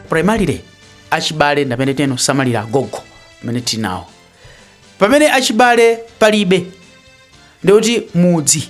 primarily achibale ndi amene tizisamalira agogo amene tinawo pamene achibale palibe ndikuti mudzi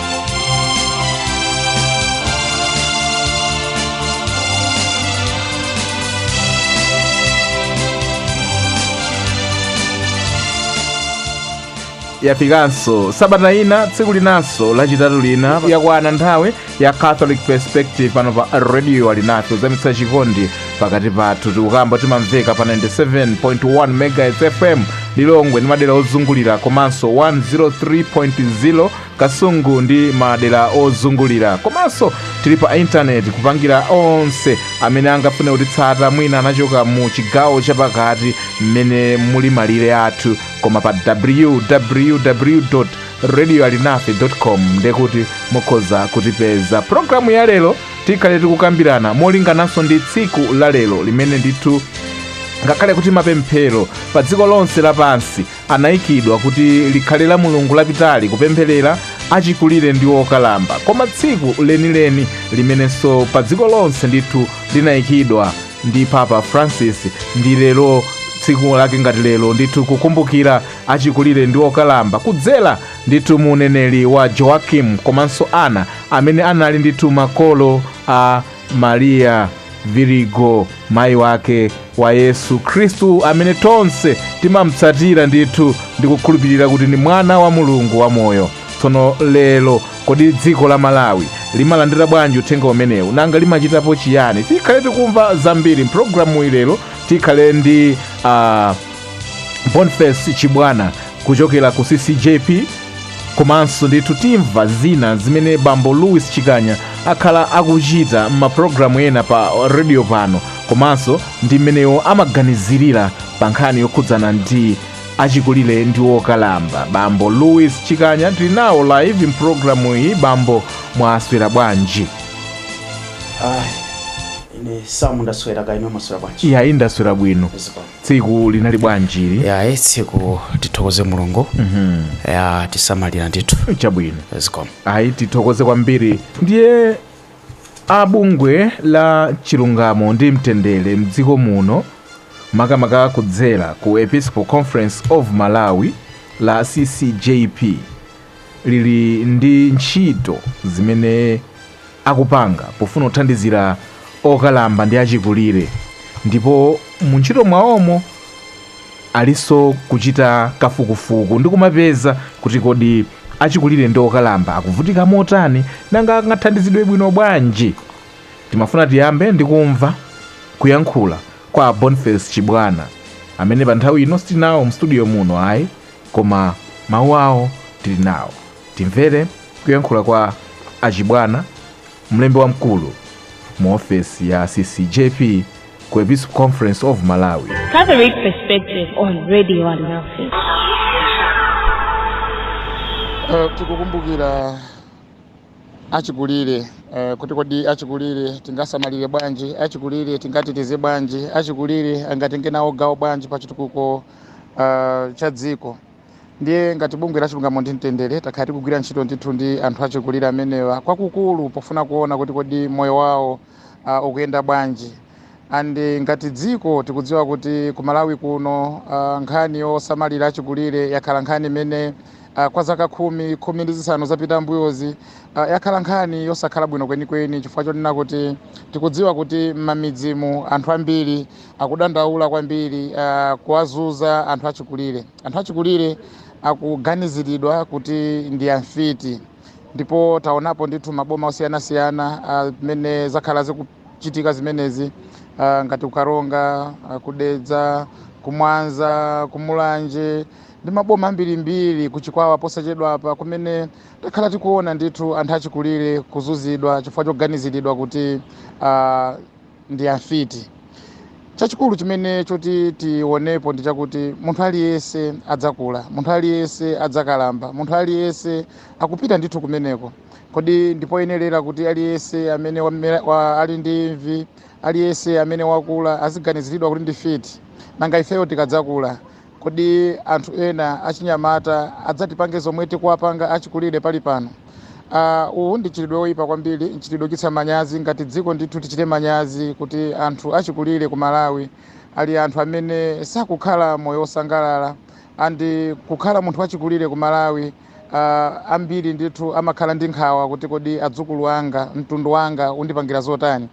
yafikanso sabata ina tsiku linanso lachitatu lina yakwana nthawi ya catholic perspective pano pa radio alinafe kuzamitsa chikondi pakati pathu tikukamba timamveka pa 97.1 megahertz fm lilongwe ndi madera ozungulira komanso 103.0 kasungu ndi madera ozungulira komanso tili pa intaneti kupangira onse amene angafune kutitsata mwina anachoka mu chigawo chapakati mmene muli malire athu koma pa www radio alinafe com ndiye kuti mukhoza kutipeza programu ya lero tikhale tikukambirana molingananso ndi tsiku la lero limene ndithu ngakhale kuti mapemphero pa dziko lonse lapansi anaikidwa kuti likhale la mulungu lapitali kupempherera achikulire ndi okalamba koma tsiku lenileni limenenso pa dziko lonse ndithu linaikidwa ndi papa francis ndi lero tsiku lake ngati lero ndithu kukumbukira achikulire ndi okalamba kudzera ndithu mu mneneri wa joakim komanso ana amene anali ndithu makolo a mariya virigo mayi wake wa yesu khristu amene tonse timamutsatira ndithu ndi kukhulupirira kuti ndi mwana wa mulungu wamoyo tsono lero kodi dziko la malawi limalandira bwanji uthenga umenewu nanga limachitapo chiyani tikhale tikumva zambiri mpulogalamu iyi lero tikhale ndi uh, boniface chibwana kuchokera ku ccjp komanso ndithu timva zina zimene bambo louis chikanya akhala akuchita m'mapulogalamu ena pa redio pano komanso ndi mmene iwo amaganizirira pa nkhani yokhudzana ndi achikulire ndi okalamba bambo louis chikanya tili nawo live mpulogalamu iyi bambo mwaswera bwanji Ayi, ine samu ndaswera kaya inu mwaswera bwanji iya indaswera bwino Zikomo. tsiku linali bwanji ili ya eh, tsiku tithokoze mulungu watisamalira ndithu Eh, chabwino zikomo ayi tithokoze kwambiri ndiye a bungwe la chilungamo ndi mtendere mdziko muno makamaka kudzera ku episcopal conference of malawi la ccjp lili ndi ntchito zimene akupanga pofuna kuthandizira okalamba ndi achikulire ndipo mu ntchito mwawomo alinso kuchita kafukufuku ndi kumapeza kuti kodi achikulire ndi okalamba akuvutika motani nanga angathandizidwe bwino bwanji timafuna tiyambe ndi kumva kuyankhula kwa boniface chibwana amene pa nthawi ino sitinawo mstudio muno ayi koma mawu awo tili nawo. Timvere kuyankhula kwa a Chibwana, mlembi wamkulu mu ofesi ya CCJP ku Episcopal Conference of Malawi. Catholic Perspective on Radio Alinafe. Uh, tikukumbukira achikulire uh, kuti kodi achikulire tingasamalire bwanji achikulire tingateteze bwanji achikulire angatenge nawo gawo bwanji pa chitukuko uh, cha dziko ndiye ngati bungwe la chilungamo ndi mtendere takhala tikugwira ntchito ndithu ndi anthu achikulire amenewa kwakukulu pofuna kuona kuti kodi moyo wawo uh, ukuyenda bwanji and ngati dziko tikudziwa kuti ku malawi kuno uh, nkhani yosamalira achikulire yakhala nkhani imene uh, kwa zaka khumi khumi ndi zisanu zapita mbuyozi uh, yakhala nkhani yosakhala bwino kwenikweni chifukwa chonena kuti tikudziwa kuti m'mamidzimu anthu ambiri akudandaula kwambiri uh, kuwazuza anthu achikulire anthu achikulire akuganiziridwa kuti ndi amfiti ndipo taonapo ndithu maboma osiyanasiyana mmene uh, zakhala zikuchitika zimenezi uh, ngati kukaronga uh, kudedza kumwanza kumulanje ndi maboma ambirimbiri kuchikwawa posachedwapa kumene takhala tikuona ndithu anthu achikulire kuzuzidwa chifukwa choganiziridwa kuti uh, ndi amfiti. Chachikulu chimene choti tionepo ndi chakuti munthu aliyense adzakula, munthu aliyense adzakalamba, munthu aliyense akupita ndithu kumeneko. Kodi ndipoyenerera kuti aliyense amene wamera, wa, ali ndi imvi, aliyense amene wakula aziganiziridwa kuti ndi fiti? Nanga ifeyo tikadzakula Kodi anthu ena achinyamata adzatipange zomwe tikuwapanga achikulire pali pano? Aaah uwu ndi mchitidwe oyipa kwambiri, mchitidwe ochititsa manyazi, ngati dziko ndithu tichite manyazi kuti anthu achikulire ku Malawi ali anthu amene sakukhala moyo osangalala and kukhala munthu wachikulire ku Malawi aah ambiri ndithu amakhala ndi nkhawa kuti kodi adzukulu anga, mtundu wanga undipangira zotani?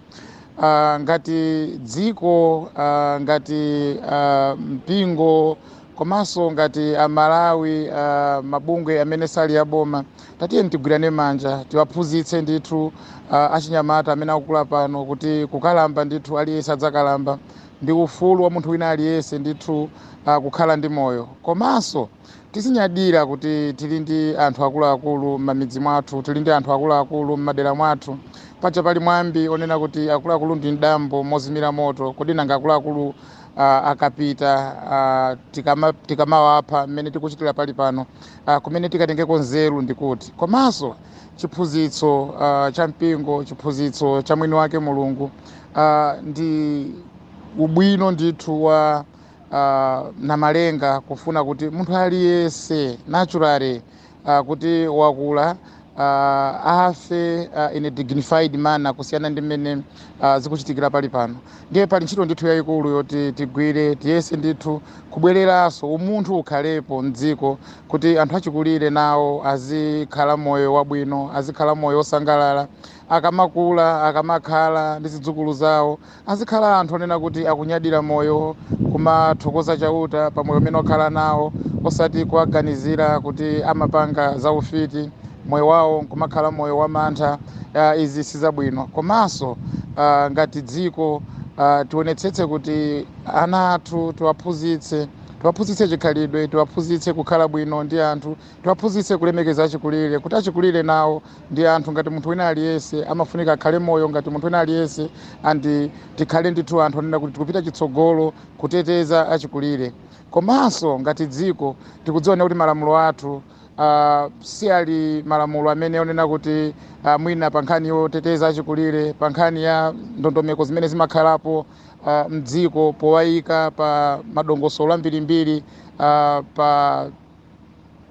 uh, ngati dziko uh, ngati uh, mpingo komanso ngati amalawi uh, mabungwe amene sali aboma tatiyeni tigwirane manja tiwaphunzitse ndithu uh, achinyamata amene akukula pano kuti kukalamba ndithu aliyense adzakalamba ndi ufulu wa munthu wina aliyense ndithu uh, kukhala ndi moyo komanso Tizinyadira kuti tili ndi anthu akuluakulu m'mamidzi mwathu, tili ndi anthu akuluakulu m'madera mwathu. Paja pali mwambi onena kuti akuluakulu ndi m'dambo mozimira moto, kodi nanga akuluakulu uh, akapita uh, tikama, tikamawapha mmene tikuchitira pali pano uh, kumene tikatengeko nzeru ndi kuti? Komanso chiphunzitso uh, cha mpingo, chiphunzitso cha mwini wake Mulungu uh, ndi ubwino ndithu wa uh, namalenga kufuna kuti munthu aliyense naturally uh, kuti wakula uh, afe uh, in a dignified manner kusiyana ndi mmene uh, zikuchitikira pali pano ndiye pali ntchito ndithu yayikulu yoti tigwire tiyese ndithu kubwereranso umunthu ukhalepo mdziko kuti anthu achikulire nawo azikhala moyo wabwino azikhala moyo wosangalala akamakula akamakhala ndi zidzukulu zawo Azikhala anthu onena kuti akunyadira moyo, kumathokoza Chauta pa moyo umene akhala nawo, osati kuwaganizira kuti amapanga zaufiti, moyo wawo nkumakhala moyo wamantha. Izi si zabwino. Komanso ngati dziko, tionetsetse kuti ana athu tiwaphunzitse, tiwaphunzitse chikhalidwe, tiwaphunzitse kukhala bwino ndi anthu, Tiwaphunzitse kulemekeza achikulire, kuti achikulire nawo ndi anthu ngati munthu wina aliyense, amafunika akhale moyo ngati munthu wina aliyense and tikhale ndithu anthu onena kuti tikupita chitsogolo kuteteza achikulire. Komanso ngati dziko tikudziwa kuti malamulo athu Uh, si ali malamulo amene onena kuti uh, mwina pa nkhani yoteteza achikulire pa nkhani ya ndondomeko zimene zimakhalapo uh, mdziko powayika pa madongosolo ambirimbiri uh, pa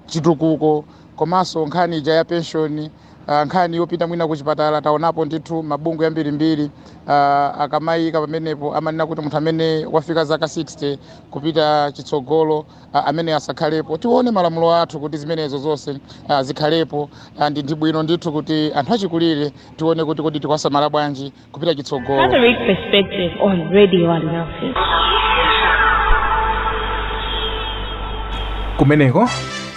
chitukuko komanso nkhani ija ya penshoni uh, nkhani yopita mwina kuchipatala taonapo ndithu mabungwe ambirimbiri uh, akamayika pamenepo amanena kuti munthu amene wafika zaka 60 kupita chitsogolo uh, amene asakhalepo tione malamulo athu kuti zimenezo zonse uh, zikhalepo uh, ndi ndi bwino ndithu kuti anthu achikulire tione kuti kodi tikuwasamala bwanji kupita chitsogolo Catholic Perspective on Radio Alinafe. kumeneko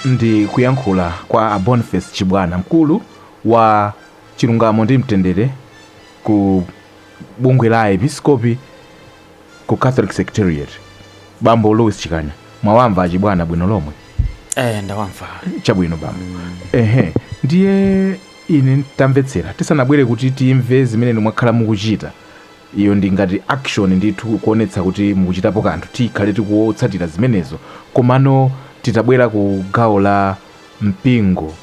ndi kuyankhula kwa a boniface chibwana mkulu wa chilungamo ndi mtendere ku bungwe la aepiskopi ku catholic secretariat bambo louis chikanya mwawamva achibwana bwino lomwe eh ndawamva chabwino bambo ehe ndiye Ine, Tamvetsera, tisanabwere kuti timve zimene inu mwakhala mukuchita, iyo ndi ngati action ndithu, kuonetsa kuti mukuchitapo kanthu, tikhale tikutsatira zimenezo, komano titabwera ku gawo la mpingo,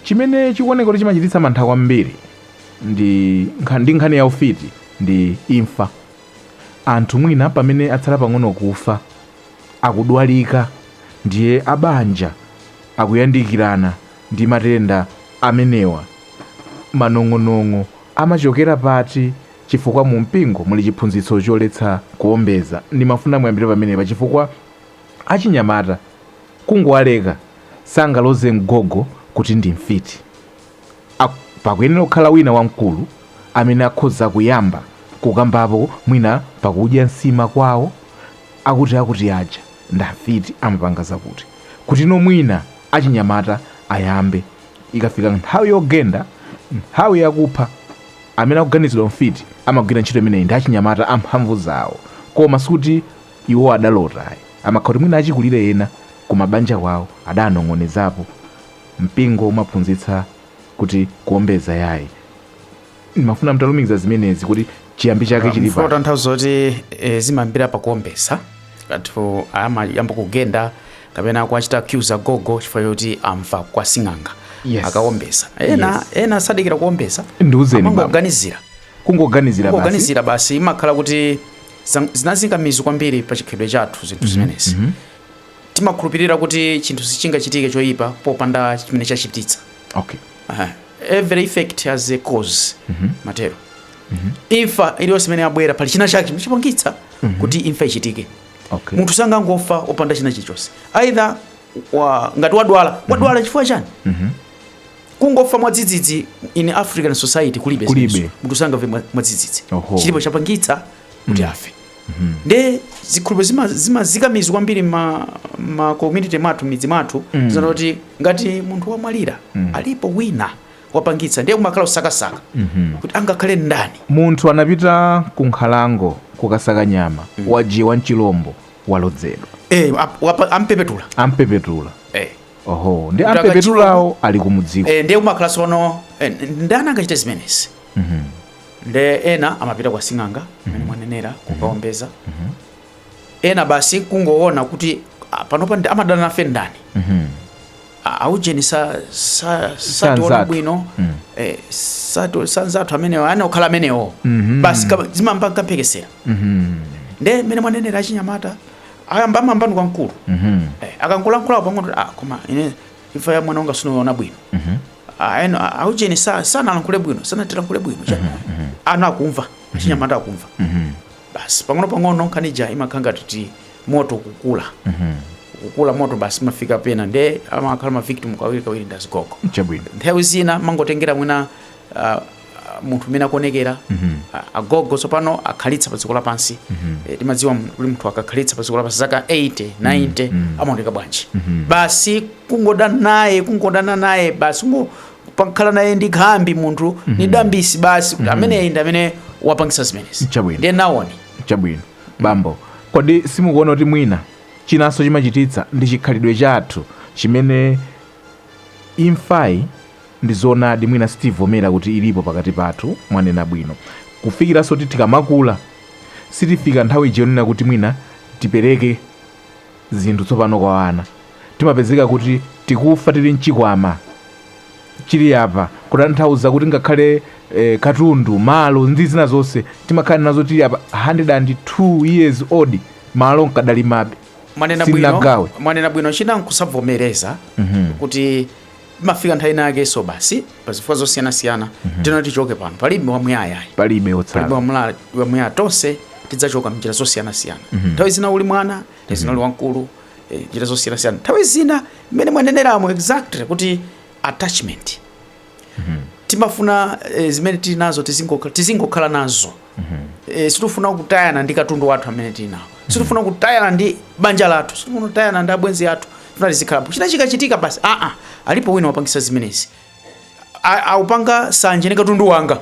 chimene chikuoneka kuti chimachititsa mantha kwambiri ndi nkha, ndi nkhani ya ufiti ndi imfa. Anthu mwina pamene atsala pang'ono kufa, akudwalika, ndiye a banja akuyandikirana. ndi matenda amenewa. Manong'onong'o amachokera pati? Chifukwa mu mpingo muli chiphunzitso choletsa kuombeza. Ndimafuna muyambire pamenepa chifukwa achinyamata kungowaleka sangaloze mgogo kuti ndi mfiti. A, pakuyenera kukhala wina wamkulu amene akhoza kuyamba kukambapo mwina pakudya nsima kwawo akuti akuti aja ndi amfiti amapanga zakuti kuti no mwina achinyamata ayambe. Ikafika nthawi yogenda, nthawi yakupha, amene akuganizidwa mfiti amagwira ntchito imeneyi ndi achinyamata amphamvu zawo. Koma sikuti iwo adalota ayi. Amakhala kuti mwina achikulire ena kumabanja kwawo adanong'onezapo. Mpingo umaphunzitsa kuti kuombeza yayi. ndimafuna mutalumikiza zimenezi kuti chiyambi chake chili mfuna pa tanthauzo kuti eh, zimayambira pakuombeza anthu amayamba kugenda kapena kuachita accuse agogo chifukwa choti amva kwa sing'anga Yes. akaombeza ena Yes. ena sadikira kuombeza Ndiuzeni, baba. amangoganizira kungoganizira basi kungoganizira basi imakhala kuti zang- zinazika mizu kwambiri pa chikhalidwe chathu zinthu zimenezi timakhulupirira kuti chinthu sichingachitike choyipa popanda chimene chachititsa okay. Aha. every effect has a cause motero imfa iliyonse imene yabwera pali china chake chimene chapangitsa kuti imfa ichitike Okay. munthu sangangofa opanda china chilichonse either wa, ngati wadwala wadwala chifukwa chani kungofa mwadzidzidzi in African society kulibe Kulibe. zimenezo. munthu sangafe mwa- mwadzidzidzi Oho. chilipo chapangitsa kuti afe Mhm. nde zikhulupiriro zima- zimazika mizu kwambiri ma, ma community mwathu midzi mwathu Mm. zonena kuti ngati munthu wamwalira Mm. alipo wina wapangitsa ndiye kumakhala kusakasaka Mhm. kuti angakhale ndani munthu anapita ku nkhalango kukasaka nyama wajiwa n'chilombo walodzedwa eh, ap- wapa- ampepetula ampepetula eh. oho ndi Kutaka ampepetulawo ali kumudziko eh, ndiye kumakhala sono eh, ndani angachite zimenezi Mhm. nde ena amapita kwa sing'anga mmene mhm. mwanenera mhm. kukaombeza mhm. ena basi kungoona kuti ah, panopa amadana nafe ndani ah, aujeni sationa bwino mm. eh, sanzathu amenewo ayenera kukhala amenewo basi zimayamba nkamphekesera nde mmene mwanenera achinyamata ayamba amamva kwa mkulu eh, akangolankhulapo pang'ono ah, koma ine imfa ya mwana wanga sinaione bwino mm -hmm. Aujeni, aujeni sa, sanalankhule bwino sanatilankhule bwino mm -hmm. ana akumva mm -hmm. achinyamata akumva mm -hmm. basi pang'ono pang'ono nkhani ija imakhala ngati moto kukula mm -hmm. ukukula moto basi imafika pena nde amakhala ma victim kawiri kawiri ndi azigogo chabwino nthawi zina amangotengera mwina uh, munthu mmene akuonekera agogo tsopano akhalitsa pa dziko lapansi Eh, timadziwa mu- kuti munthu akakhalitsa pa dziko lapansi zaka 80 90 amaoneka bwanji basi kungodana naye kungodana naye basi kungo- kukhala naye ndi khambi munthu ndi khambi basi kuti ameneyi ndi amene wapangisa zimenezi Chabwino. ndiye ndaona chabwino bambo kodi simukuona kuti mwina chinanso chimachititsa ndi chikhalidwe chathu chimene Imfayi ndi zoonadi mwina sitivomera kuti ilipo pakati pathu mwanena bwino kufikiranso kuti tikamakula sitifika nthawi ija yonena kuti mwina tipereke zinthu tsopano kwa ana timapezeka kuti tikufa tili nchikwama chili apa kutanthauza kuti ngakhale eh, katundu malo ndi zina zonse timakhala nazo tili apa 102 years old malo ndikadalimabe mwanena bwino Sindinagawe. mwanena bwino china nkusavomereza kuti imafika nthawi inayakenso basi pa zifukwa zosiyanasiyana tiyeni tichoke pano palibe wamuyaya palibe palibe otsala wamula- wamuyaya tonse tidzachoka mnjira zosiyanasiyana nthawi zina uli mwana nthawi zina uli wamkulu eh, njira zosiyanasiyana nthawi zina mmene mwaneneramo exactly kuti attachment mm -hmm. timafuna e, zimene tili nazo tizingokhala tizingo nazo mm -hmm. e, eh, sitifuna kutayana ndi katundu wathu amene tili nawo mm -hmm. sitifuna kutayana ndi banja lathu sitifuna kutayana ndi abwenzi athu tikufuna tizikhalapo china chikachitika basi aa ah, ah, alipo wina wapangisa zimenezi akupanga nsanje ndi katundu wanga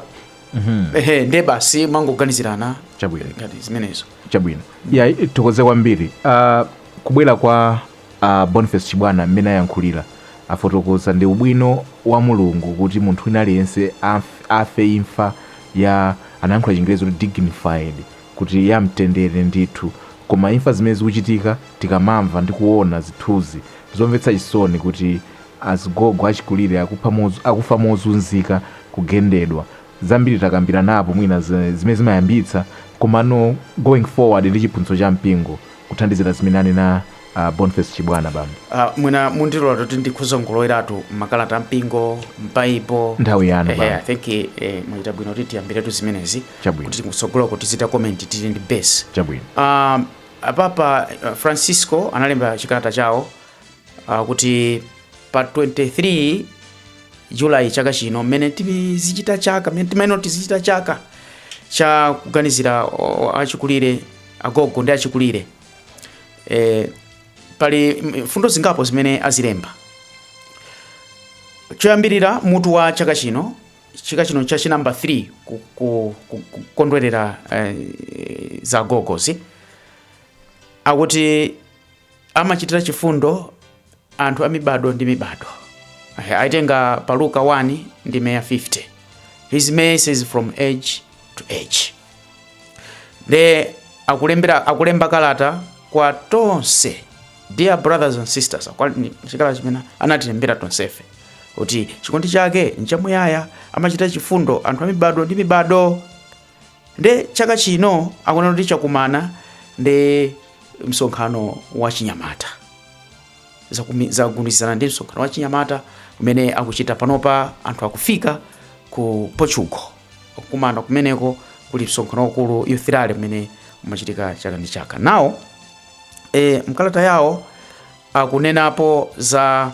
mm -hmm. ehe nde basi kumangoganizirana chabwino ngati zimenezo chabwino ya yeah, tithokoze kwambiri uh, kubwera kwa A Boniface Chibwana mmene ayankhulila afotokoza ndi ubwino wa Mulungu kuti munthu wina aliyense amf, afe imfa ya anayankhula chingerezi kuti dignified kuti ya mtendere ndithu komano imfa zimene zikuchitika tikamamva ndi kuona zithunzi zomvetsa chisoni kuti azigogo achikulire akupha moz, akufa mozunzika kugendedwa zambiri takambiranapo mwina za- zimene zimayambitsa komano going forward ndi chiphunzitso cha mpingo kuthandizira zimene anena uh, boniface chibwana bambo Uh, mwina mundilola kuti ndikhoza kungoloweratu makalata ampingo m'Baibulo Nthawi yanu, Ehe, bwana. i think eh, eh, mwachita bwino kuti tiyambiretu zimenezi Chabwino. kuti kutsogoloku tizichita comment tili ndi base chabwino um, a Papa uh, Francisco analemba chikalata chawo akuti pa 23 julayi chaka chino mmene tizichita chaka mmene timayenera kuti tizichita chaka cha kuganizira o- achikulire agogo ndi achikulire e, pali mm, mfundo zingapo zimene azilemba choyambirira mutu wa chaka chino chaka chino cha chinamba 3 ku- ku- ku- kukondwerera eh, za agogozi akuti amachitira chifundo anthu a mibado ndi mibado aitenga pa luka 1 ndime ya 50 his mercy is from age to age nde akulembera akulemba kalata kwa tonse dear brothers and sisters chikalata chimene anatilembera tonsefe kuti chikondi chake nchamuyaya amachitira chifundo anthu a mibado ndi mibado Nde chaka chino akunena kuti chakumana ndi msonkhano wa chinyamata zagundizana ndi msonkhano wa chinyamata umene akuchita panopa anthu akufika ku Portugal kukumana kumeneko kuli msonkhano wakulu youth rally umene umachitika chaka ndi chaka now e, mkalata yawo akunenapo za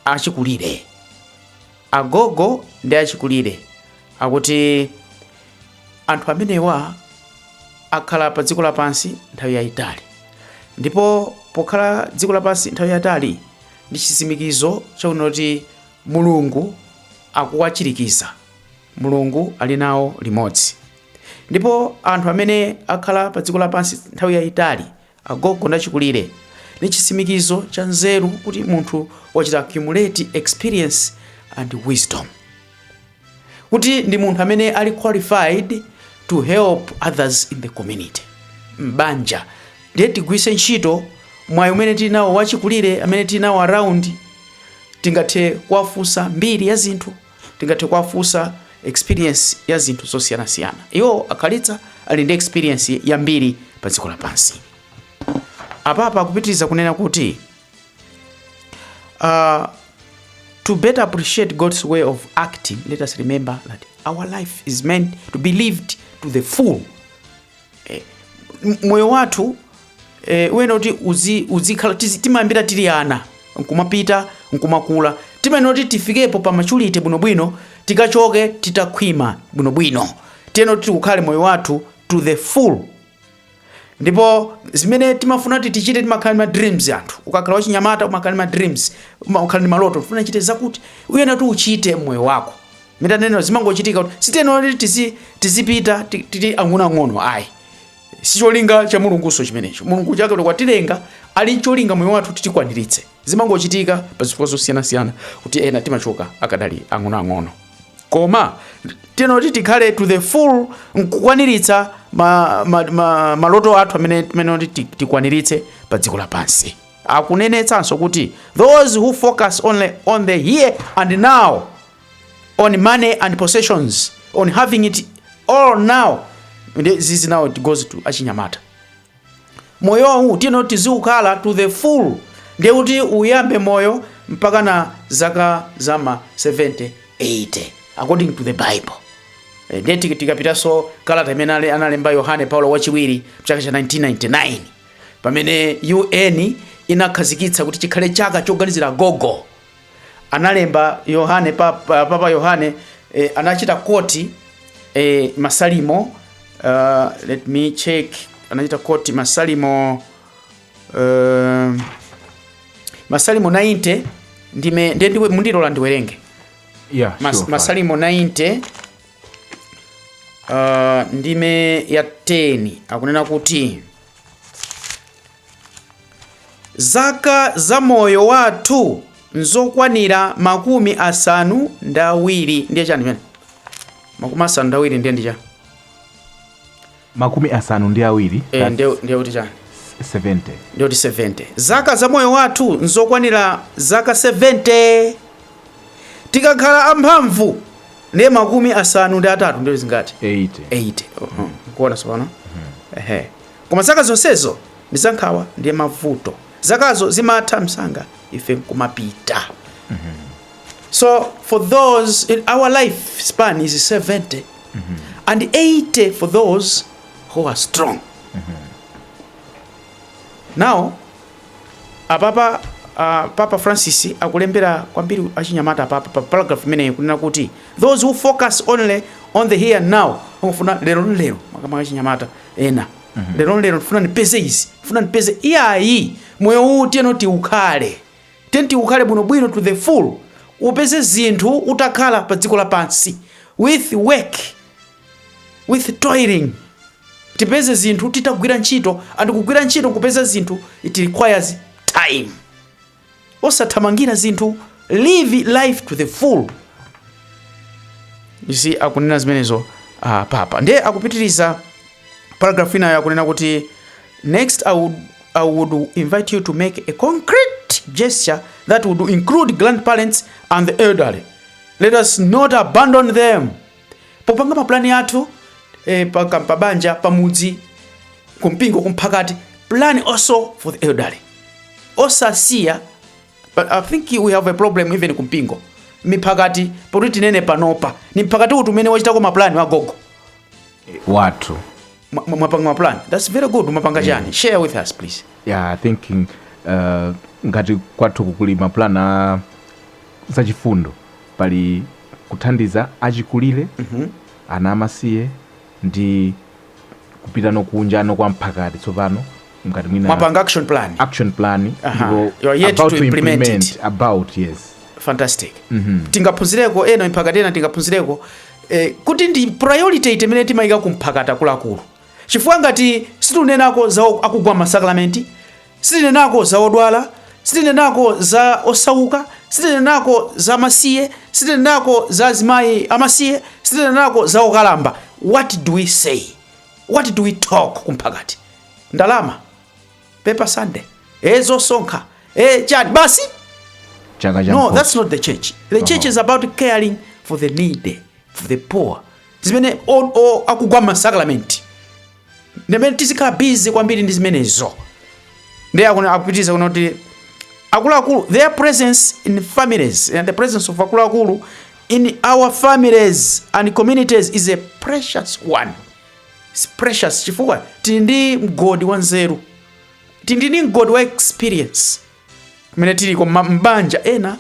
achikulire Agogo ndi achikulire akuti anthu amenewa akhala pa dziko lapansi nthawi yayitali ndipo pokhala dziko lapansi nthawi yatali ndi chitsimikizo chakuti kuti Mulungu akuwachirikiza. Mulungu ali nawo limodzi. Ndipo anthu amene akhala pa dziko lapansi nthawi yayitali Agogo ndi achikulire ni chitsimikizo cha nzeru kuti munthu wachita accumulate experience and wisdom, kuti ndi munthu amene ali qualified to help others in the community, m'banja. Ndiye tigwiritse ntchito mwayi umene tili nawo wa achikulire amene tili nawo around, tingathe kuwafunsa mbiri ya zinthu. Tingathe kuwafunsa experience ya zinthu zosiyanasiyana. Iwo akhalitsa ali ndi experience yambiri pa dziko lapansi. Apapa akupitiriza kunena kuti uh, to better appreciate God's way of acting, let us remember that our life is meant to be lived to the full eh, moyo wathu eh, uyenera kuti uzi- uzikhala tizi- timayambira tili ana nkumapita nkumakula timayenera kuti tifikepo pa maturity bwinobwino tikachoke titakhwima bwinobwino tiyenera kuti tiukhale moyo wathu to the full ndipo zimene timafuna kuti tichite timakhala ndi ma dreams anthu ukakhala wachinyamata umakhala ndi ma dreams umakhala ndi maloto ufuna uchite zakuti uyenera kuti uchite mmoyo wako mutanena zimangochitika kuti sitiyenera kuti tizi- tizipita ti- tili ang'onoang'ono ayi sicholinga cha mulungunso chimenecho mulungu chifukwa chake kuti watilenga ali cholinga pa moyo wathu titikwaniritse zimangochitika pa zifukwa zosiyanasiyana kuti ena timachoka akadali ang'onoang'ono koma tiyenera kuti tikhale to the full nkukwaniritsa ma, ma, ma, maloto athu amene tiyenera kuti ti- tikwaniritse pa dziko lapansi akunenetsanso kuti those who focus only on the here and now on money and possessions on having it all now this is now it goes to achinyamata moyowu tiyeni tiziukhala to the full ndiye kuti uyambe moyo mpakana zaka za ma 70 80 according to the bible Eh, ndiye tiki- tikapitanso kalata imene ale- analemba yohane paulo wachiwiri mchaka cha 1999 pamene un inakhazikitsa kuti chikhale chaka choganizira gogo analemba Yohane Papa, Papa Yohane eh, anachita koti eh, masalimo uh, let me check anachita koti masalimo uh, masalimo 90 ndime ndiye ndiye mundilola ndiwerenge Yeah, Mas, sure, fine. masalimo 90 uh, ndime ya 10 akunena kuti Zaka za moyo wathu nzokwanira makumi asanu ndi awiri ndiye chani chimene makumi asanu ndi awiri ndiye ndi chani makumi asanu ndi awiri Eh, that's ndiye ndiye kuti chani 70 ndiye kuti 70 zaka za moyo wathu nzokwanira zaka 70 tikakhala amphamvu ndiye makumi asanu ndi atatu ndiye zingati 80 80 mukuona tsopano ehe Koma zaka zonsezo ndi za nkhawa ndiye mavuto. Zakazo zimatha msanga ife nkumapita. Mm -hmm. So for those our life span is 70 mm -hmm. and 80 for those who are strong. Mm -hmm. Now apapa uh, Papa Francis akulembera kwambiri achinyamata papa pa paragraph imeneyi kunena kuti those who focus only on the here and now amafuna lero lero makamaka achinyamata ena lero lero ndifuna ndipeze izi ndifuna ndipeze iyayi moyo uwu tiyeni tiukhale tiyeni tiukhale bwinobwino to the full upeze zinthu utakhala pa dziko lapansi with work with toiling tipeze zinthu titagwira ntchito and kugwira ntchito nkupeza zinthu it requires time osathamangira zinthu live life to the full you see akunena zimenezo uh, papa ndiye akupitiriza paragraph inayo akunena kuti next I would invite you to make a concrete gesture that would include grandparents and the elderly let us not abandon them popanga mapulani athu eh, pa, ka- pabanja pamudzi kumpingo kumphakati plan also for the elderly osasiya but i think we have a problem even kumpingo miphakati pakuti tinene panopa ni mphakati uti umene wachitako mapulani a agogo athu Mwa- mwa- mwapanga maplan thats very good mwapanga chani share with us please yeah i think uh, ngati kwathuku kuli maplan a zachifundo pali kuthandiza achikulire ana amasiye ndi kupitanso kunja kwa mphakati tsopano ngati mwina mwapanga action plan action plan Aha. ndipo You are yet about to implement it. about yes fantastic tingaphunzireko ena mphakati ena tingaphunzireko e, kuti ndi priority imene timayika kumphakati akuluakulu chifukwa ngati sitinenako za o- akugwa masakramenti sitinenako za odwala sitinenako za osauka sitinenako za amasiye sitinenako za azimayi amasiye sitinenako za okalamba what do we say what do we talk kumphakati ndalama paper sunday e zosonkha e chani basi chaka cha no that's not the church the church is about caring for the needy for the poor zimene o- o- akugwa masakramenti ndimene tizikhala busy kwambiri ndi zimenezo ndiye akuna- akupitiriza kunena kuti akuluakulu their presence in families and the presence of akuluakulu in our families and communities is a precious one It's precious chifukwa tili ndi mgodi wa nzeru, tili ndi mgodi wa experience kumene tiliko mma- m'banja. Ena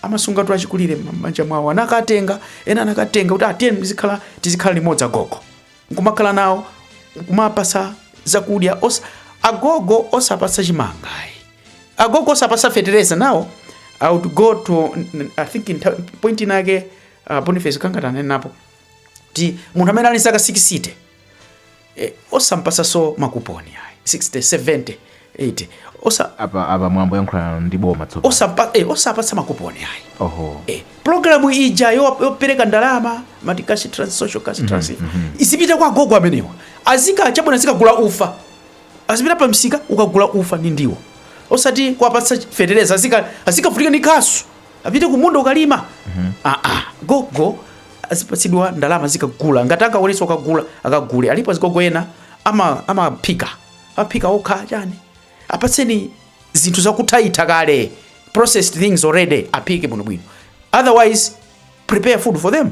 amasungatu achikulire m'banja mwawo, anakatenga ena anakatenga kuti atiyeni muzikhala tizikhala limodzi agogo, nkumakhala nawo nkumapasa zakudya osa, agogo osapasa chimanga ayi. agogo osapasa fetereza now i would go to n- n- i think in ta- point inake uh, boniface anangotinenapo kuti munthu amene ali zaka 60 eh, osampasaso makuponi ayi 60 70 80 osa apa apa mwina ndikuyankhulana ndi boma tsopano osapa eh, osapatsa makuponi ayi oho eh, programu ija yo- yopereka ndalama amati cash trans social cash transfer izipita kwa agogo amenewa azika chabwino azikagula ufa azipita pa msika kukagula ufa ndi ndiwo osati kuwapatsa fetereza azika azikavutika ndi khasu apite kumunda kukalima aa gogo azipatsidwa ndalama zikagula ngati angakwanitse kukagula akagule alipo azigogo ena ama- amaphika amaphika okha chani apatseni zinthu zakuthaitha kale processed things already aphike bwinobwino otherwise prepare food for them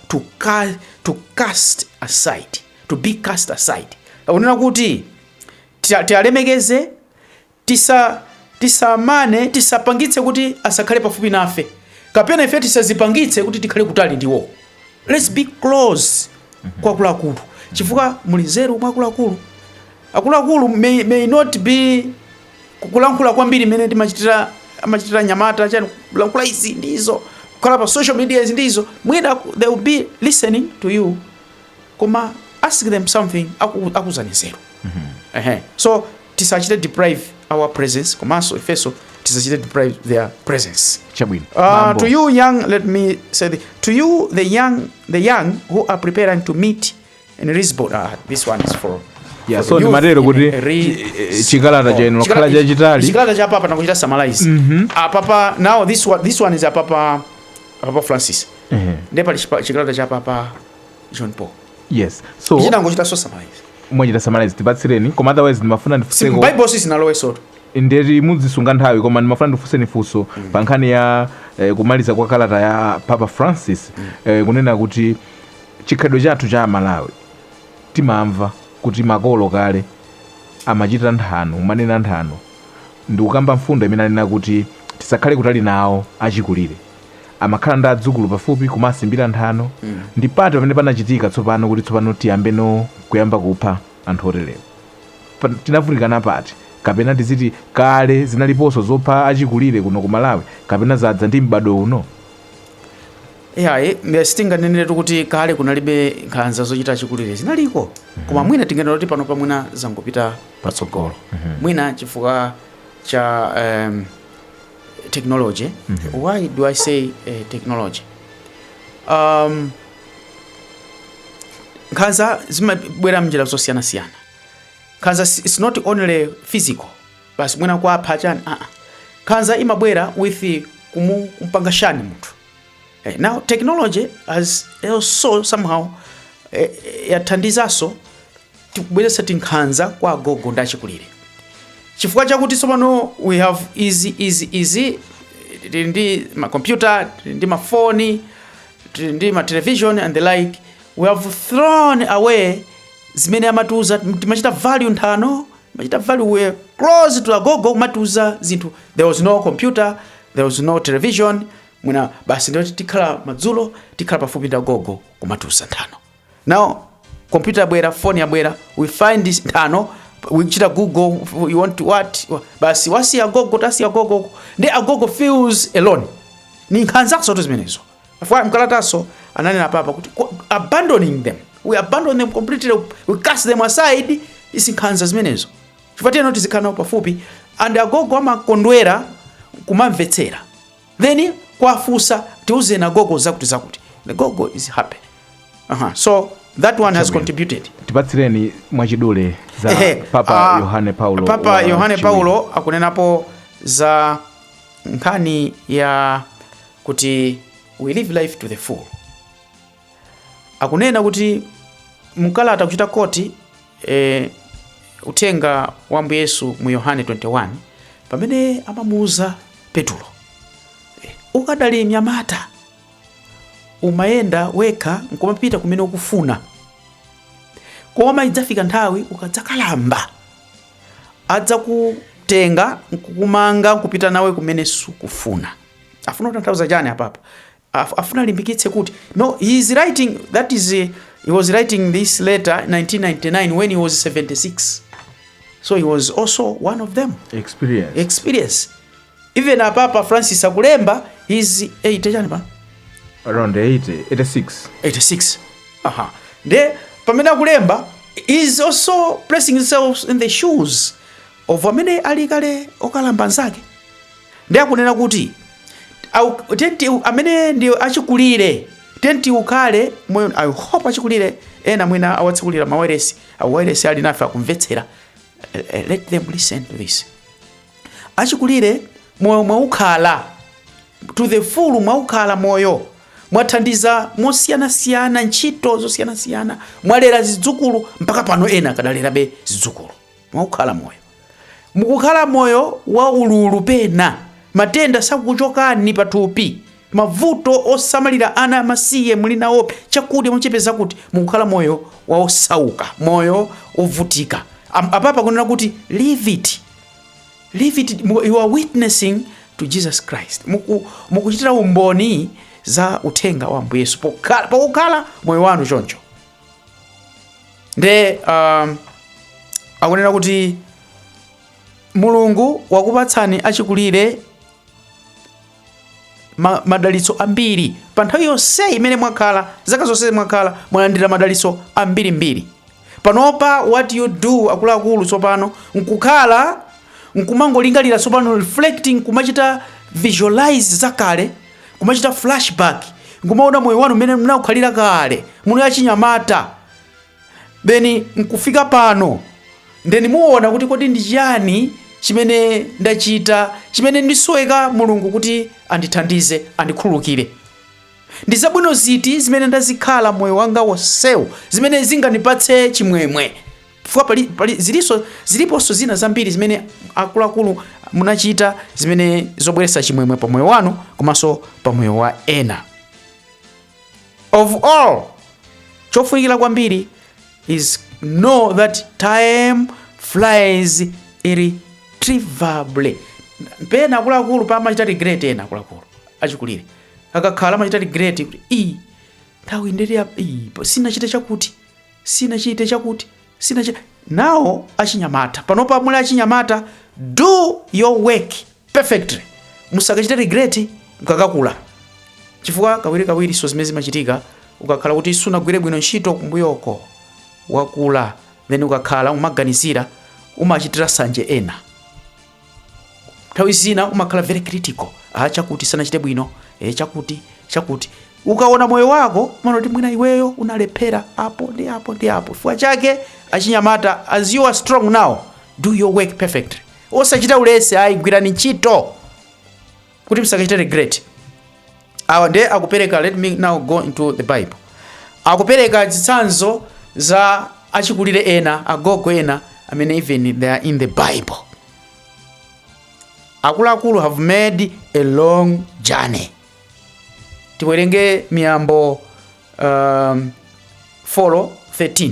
to ca- to cast aside to be cast aside akunena kuti tialemekeze tisa- tisamane tisapangitse kuti asakhale pafupi nafe kapena ife tisazipangitse kuti tikhale kutali ndi iwo let's be close kwa akuluakulu chifukwa muli nzeru mwa akuluakulu akuluakulu may, may not be kulankhula kwambiri mmene timachitira amachitira anyamata chani kulankhula izi ndi izo kukhala pa social media izi ndi izo mwina aku- they will be listening to you koma ask them something aku- akuuzani nzeru Ehe. so tisachite deprive our presence komanso ifenso tisachite deprive their presence chabwino Uh, Bambo. to you young, let me say, the, to you the young, the young who are preparing to meet in Lisbon, uh, this one is for Yeah, for so the youth ndimatero kuti in re- chi- eh, chikalata chenu chakhala Chikala- chachitali chikalata cha papa nakuchita summarize apapa now this one, this one is a papa, a papa francis Ehe, ndiye pali chipa- chikalata cha papa john paul yes so tinangochita so summarize mwachita summarize tipatsireni koma otherwise ndimafuna ndifunseko bible sitinalowe so that ndiye kuti muzisunga nthawi koma ndimafuna ndifunseni funso pa nkhani ya eh, kumaliza kwa kalata ya papa francis eh, kunena kuti Chikhalidwe chathu cha a Malawi timamva kuti makolo kale amachita nthano, kumanena nthano ndikukamba mfundo imene anena kuti tisakhale kutali nawo achikulire. Amakhala ndi adzukulu pafupi kumawasimbira nthano. Ndi pati pamene panachitika tsopano kuti tsopano tiyambeno kuyamba kupha anthu oterewa? Pa, tinavutika pati? Kapena tiziti kale zinaliponso zopha achikulire kuno ku Malawi kapena zadza ndi m'badwo uno? Iyayi, sitinganeneretu kuti kale kunalibe nkhanza zochitira achikulire zinaliko koma mwina tinganena kuti panopa mwina zangopita patsogolo mwina chifukwa cha um, technology why do i say uh, technology um, nkhanza zimabwera mnjira zosiyanasiyana nkhanza si- it's not only physical basi mwina kuwapha chani aa nkhanza imabwera with kumu- kumpanga shun munthu Eh, now technology has also somehow eh, eh, yathandizanso kubweretsa nkhanza kwa agogo ndi achikulire chifukwa chakuti tsopano we have easy easy easy tili ndi makompyuta tili ndi mafoni tili ndi matelevision and the like we have thrown away zimene amatiuza timachita value nthano timachita value we close to agogo kumatiuza zinthu there was no computer there was no television mwina basi ndio tikhala madzulo tikhala pafupi ndi agogo kumatiuza nthano now computer yabwera phone yabwera we find this nthano we chita google you want to what basi wasi agogo tasi agogo ndi agogo feels alone ndi nkhanzanso tu zimenezo mkalatanso ananena papa kuti abandoning them we abandon them completely we cast them aside ndi nkhanza zimenezo chifukwa tiyeno tizikhala nawo pafupi and agogo amakondwera kumamvetsera then kuwafunsa tiuzeni agogo zakuti zakuti the gogo is happy uh-huh. so that one has contributed tipatsireni mwachidule za Ehe, papa ah, yohane paulo papa wa yohane paulo akunenapo za nkhani ya kuti we live life to the full Akunena kuti mkalata kuchita koti e, uthenga wa Ambuye Yesu mu Yohane 21 pamene amamuuza Petulo ukadali mnyamata umayenda wekha nkumapita kumene ukufuna, koma idzafika nthawi ukadzakalamba adzakutenga nkukumanga nkupita nawe kumene sukufuna. Afuna kutanthauza chani apapa? Af- afuna alimbikitse kuti no he is writing that is uh, he was writing this letter 1999 when he was 76 so he was also one of them experience experience even apapa francis akulemba is 80 chani pa around 80 86 86 aha nde pamene akulemba is also placing himself in the shoes of amene ali kale okalamba nzake nde akunena kuti au- tenti amene ndi achikulire tenti ukhale moyo i hope achikulire ena mwina awatsekulira mawailesi ali nafe akumvetsera Eh, eh, let them listen to this achikulire moyo mwaukhala to the full mwaukhala moyo mwathandiza mosiyanasiyana ntchito zosiyanasiyana mwalera zidzukulu mpaka pano ena akadalerabe zidzukulu Mwaukhala moyo. Mukukhala moyo wa ululu pena. Matenda sakukuchokani pathupi. Mavuto osamalira ana amasiye muli nawobe. Chakudya muchipeza kuti. Mukukhala moyo wa osauka, moyo wovutika. Am, apapa akunena kuti live it. Live it. You are witnessing to Jesus Christ. Muku, mukuchitira umboni za uthenga wa Ambuye Yesu pokhala, pokukhala moyo wanu choncho. nde um, akunena kuti mulungu wakupatsani achikulire ma, madalitso ambiri pa nthawi yonse imene mwakhala zaka zonse mwakhala mwalandira madalitso ambirimbiri panopa what you do akuluakulu tsopano nkukhala nkumangolingalira tsopano reflecting kumachita visualize zakale kumachita flash back nkumaona moyo wanu mmene mnaukhalira kale muno achinyamata then nkufika pano then muona kuti kodi ndi chiyani chimene ndachita chimene ndisoweka mulungu kuti andithandize andikhululukire ndi zabwino ziti zimene ndazikhala moyo wanga wonsewu zimene zingandipatse chimwemwe Chifukwa pali, pali zilinso ziliponso zina zambiri zimene akuluakulu munachita zimene zobweretsa chimwemwe pa moyo wanu komanso pa moyo wa ena. Of all, chofunikira kwambiri is know that time flies irretrievably. Pena akuluakulu amachita regret ena akuluakulu achikulire akakhala amachita regret kuti nthawi ndili apa sinachite chakuti sinachite chakuti sinachi nanu achinyamata panopa muli achinyamata do your work perfectly musakachite regret mkakakula chifukwa kawirikawiri so zimene zimachitika ukakhala kuti sunagwire bwino ntchito kumbuyoko wakula then ukakhala umaganizira umachitira sanje ena nthawi zina umakhala very critical ah chakuti sanachite bwino eh chakuti chakuti ukaona moyo wako umaona kuti mwina iweyo unalephera apo ndi apo ndi apo chifukwa chake achinyamata as you are strong now do your work perfectly osachita ulesi ayi gwirani ntchito kuti musakachite regret awa ndiye akupereka let me now go into the bible akupereka zitsanzo za achikulire ena agogo ena amene even they are in the bible akuluakulu have made a long journey tiwerenge miyambo um, 4 13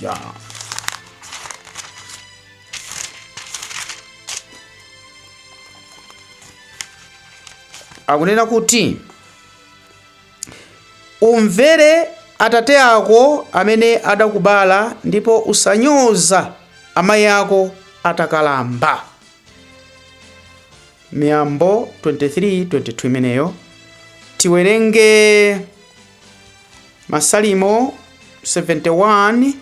Yeah. akunena kuti umvere atate ako amene adakubala ndipo usanyoze amayi ako atakalamba Miyambo 23:22 imeneyo. Tiwerenge Masalimo 71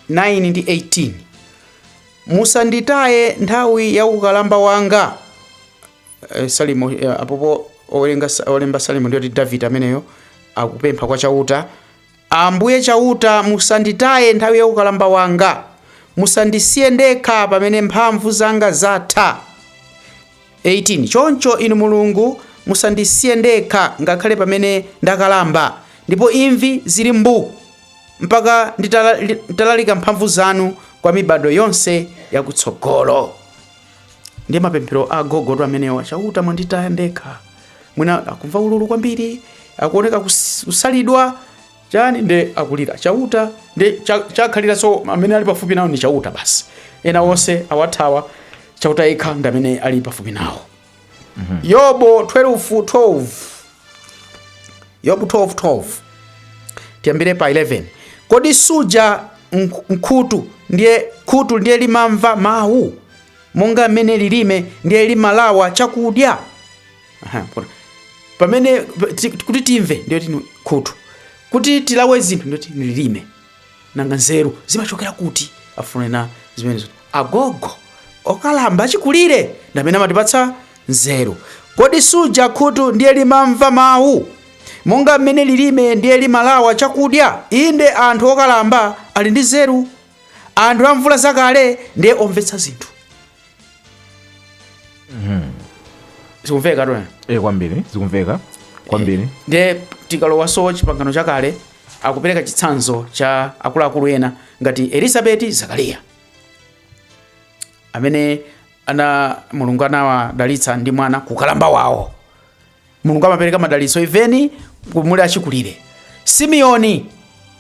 9 ndi 18. Musanditaye nthawi ya ukalamba wanga. Eh, Salimo eh, apopo owerenga olemba Salimo ndiye kuti Davide ameneyo akupempha kwa Chauta Ambuye Chauta, musanditaye nthawi ya ukalamba wanga, musandisiye ndekha pamene mphamvu zanga zatha. 18 choncho Inu Mulungu, musandisiye ndekha ngakhale pamene ndakalamba, ndipo imvi zili mbu, mpaka nditalalika mphamvu zanu kwa mibadwo yonse yakutsogolo. ndiye mapemphero a agogotu amenewa chauta mwanditaya ndekha mwina akumva ululu kwambiri akuoneka kus- kusalidwa chani nde akulira chauta nde cha- chatsalira so amene ali pafupi nawo ndi chauta basi ena onse awathawa chauta yekha ndi amene ali pafupi nawo Mhm. yobo 12 12 yobu 12 12 tiyambire pa 11 kodi suja mk- mkhutu ndiye khutu ndiye limamva mawu monga mmene lilime ndiye limalawa chakudya Aha, pona. pamene ti- kuti timve ndiye ndi khutu kuti tilawe zinthu ndiye ndi lilime nanga nzeru zimachokera kuti afunena zimenezo agogo okalamba achikulire ndi amene amatipatsa nzeru kodi suja khutu ndiye limamva mawu monga mmene lilime ndiye limalawa chakudya inde anthu okalamba ali ndi nzeru anthu amvula zakale ndiye omvetsa zinthu zikumveka tu e kwambiri zikumveka kwambiri ndiye tikalowanso chipangano chakale akupereka chitsanzo cha akuluakulu ena ngati elizabeti zakariya amene ana mulungu anawadalitsa ndi mwana kukalamba wawo mulungu amapereka madalitso even muli achikulire simiyoni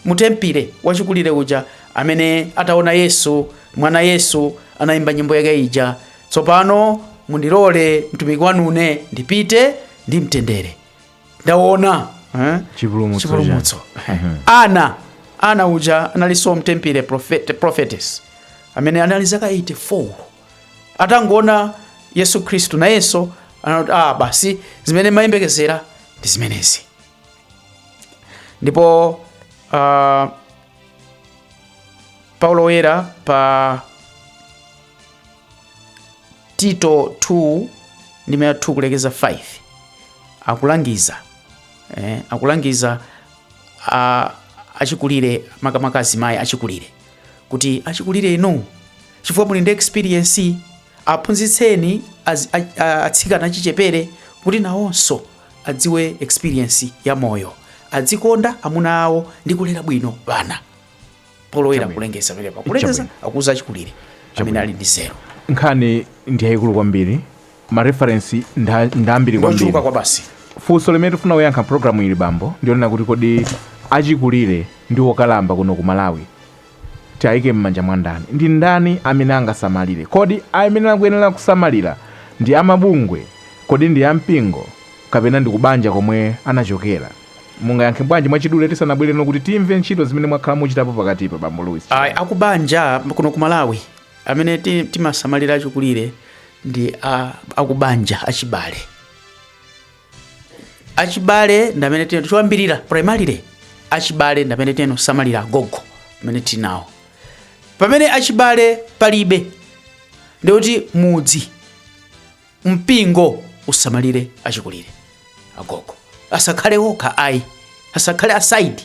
mutempile wachikulire uja amene ataona yesu mwana yesu anayimba nyimbo yake ija tsopano mundilole mtumiki wanune ndipite ndi mtendere ndaona eh? Chipulumutso chipulumutso ana ana uja analinso mtempile prophet, prophetess amene anali zaka 84 atangoona yesu khristu nayenso anati ah basi zimene mayembekezera ndi zimenezi ndipo uh, paulo woyera pa tito 2 ndime ya 2 kulekeza 5 akulangiza eh, akulangiza a- achikulire makamaka azimayi achikulire kuti achikulire inu chifukwa muli ndi experience aphunzitseni az- a- a- atsikana achichepere kuti nawonso adziwe experience ya moyo adzikonda amuna awo ndi kulera bwino bana polowera Chabwino. kulengeza pamenepa kulengeza Chabwino. akuza achikulire amene Chabwino. ali ndi nzeru nkhani ndi yayikulu kwambiri mareferensi nda- ndambiri kwambiri ndochuluka kwabasi funso limene tifuna kuyankha mpulogalamu ili bambo ndi yonena kuti kodi achikulire ndi okalamba kuno ku malawi Tiaike m'manja mwa ndani? Ndi ndani amene angasamalire? Kodi amene akuyenera kusamalira ndi a mabungwe? Kodi ndi a mpingo? Kapena ndi kubanja komwe anachokera? Mungayankhe bwanji mwachidule tisanabwereno kuti timve ntchito zimene mwakhala muchitapo pakatipa, Bambo Louis Ayi, Chilala? akubanja kuno ku Malawi amene ti- timasamalira achikulire ndi a- akubanja achibale. achibale ndamene tino choyambirira primarily achibale ndamene tino samalira agogo amene tinawo pamene achibale palibe ndikuti mudzi mpingo usamalire achikulire agogo asakhale okha ayi asakhale aside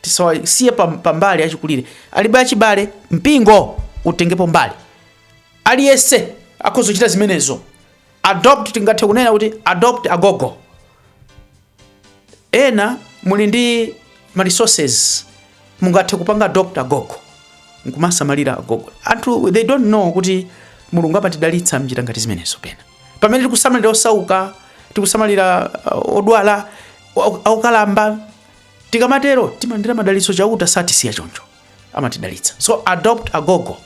tisawasiye pam- pambali achikulire alibe achibale mpingo utengepo mbali aliyense akhoza kuchita zimenezo adopt tingathe kunena kuti adopt agogo ena muli ndi ma resources mungathe kupanga adopt agogo nkumasamalira agogo anthu they don't know kuti mulungu amatidalitsa mnjira ngati zimenezo pena pamene tikusamalira osauka tikusamalira uh, odwala au- aukalamba tikamatero timalandira madalitso chauta satisiya choncho amatidalitsa so adopt agogo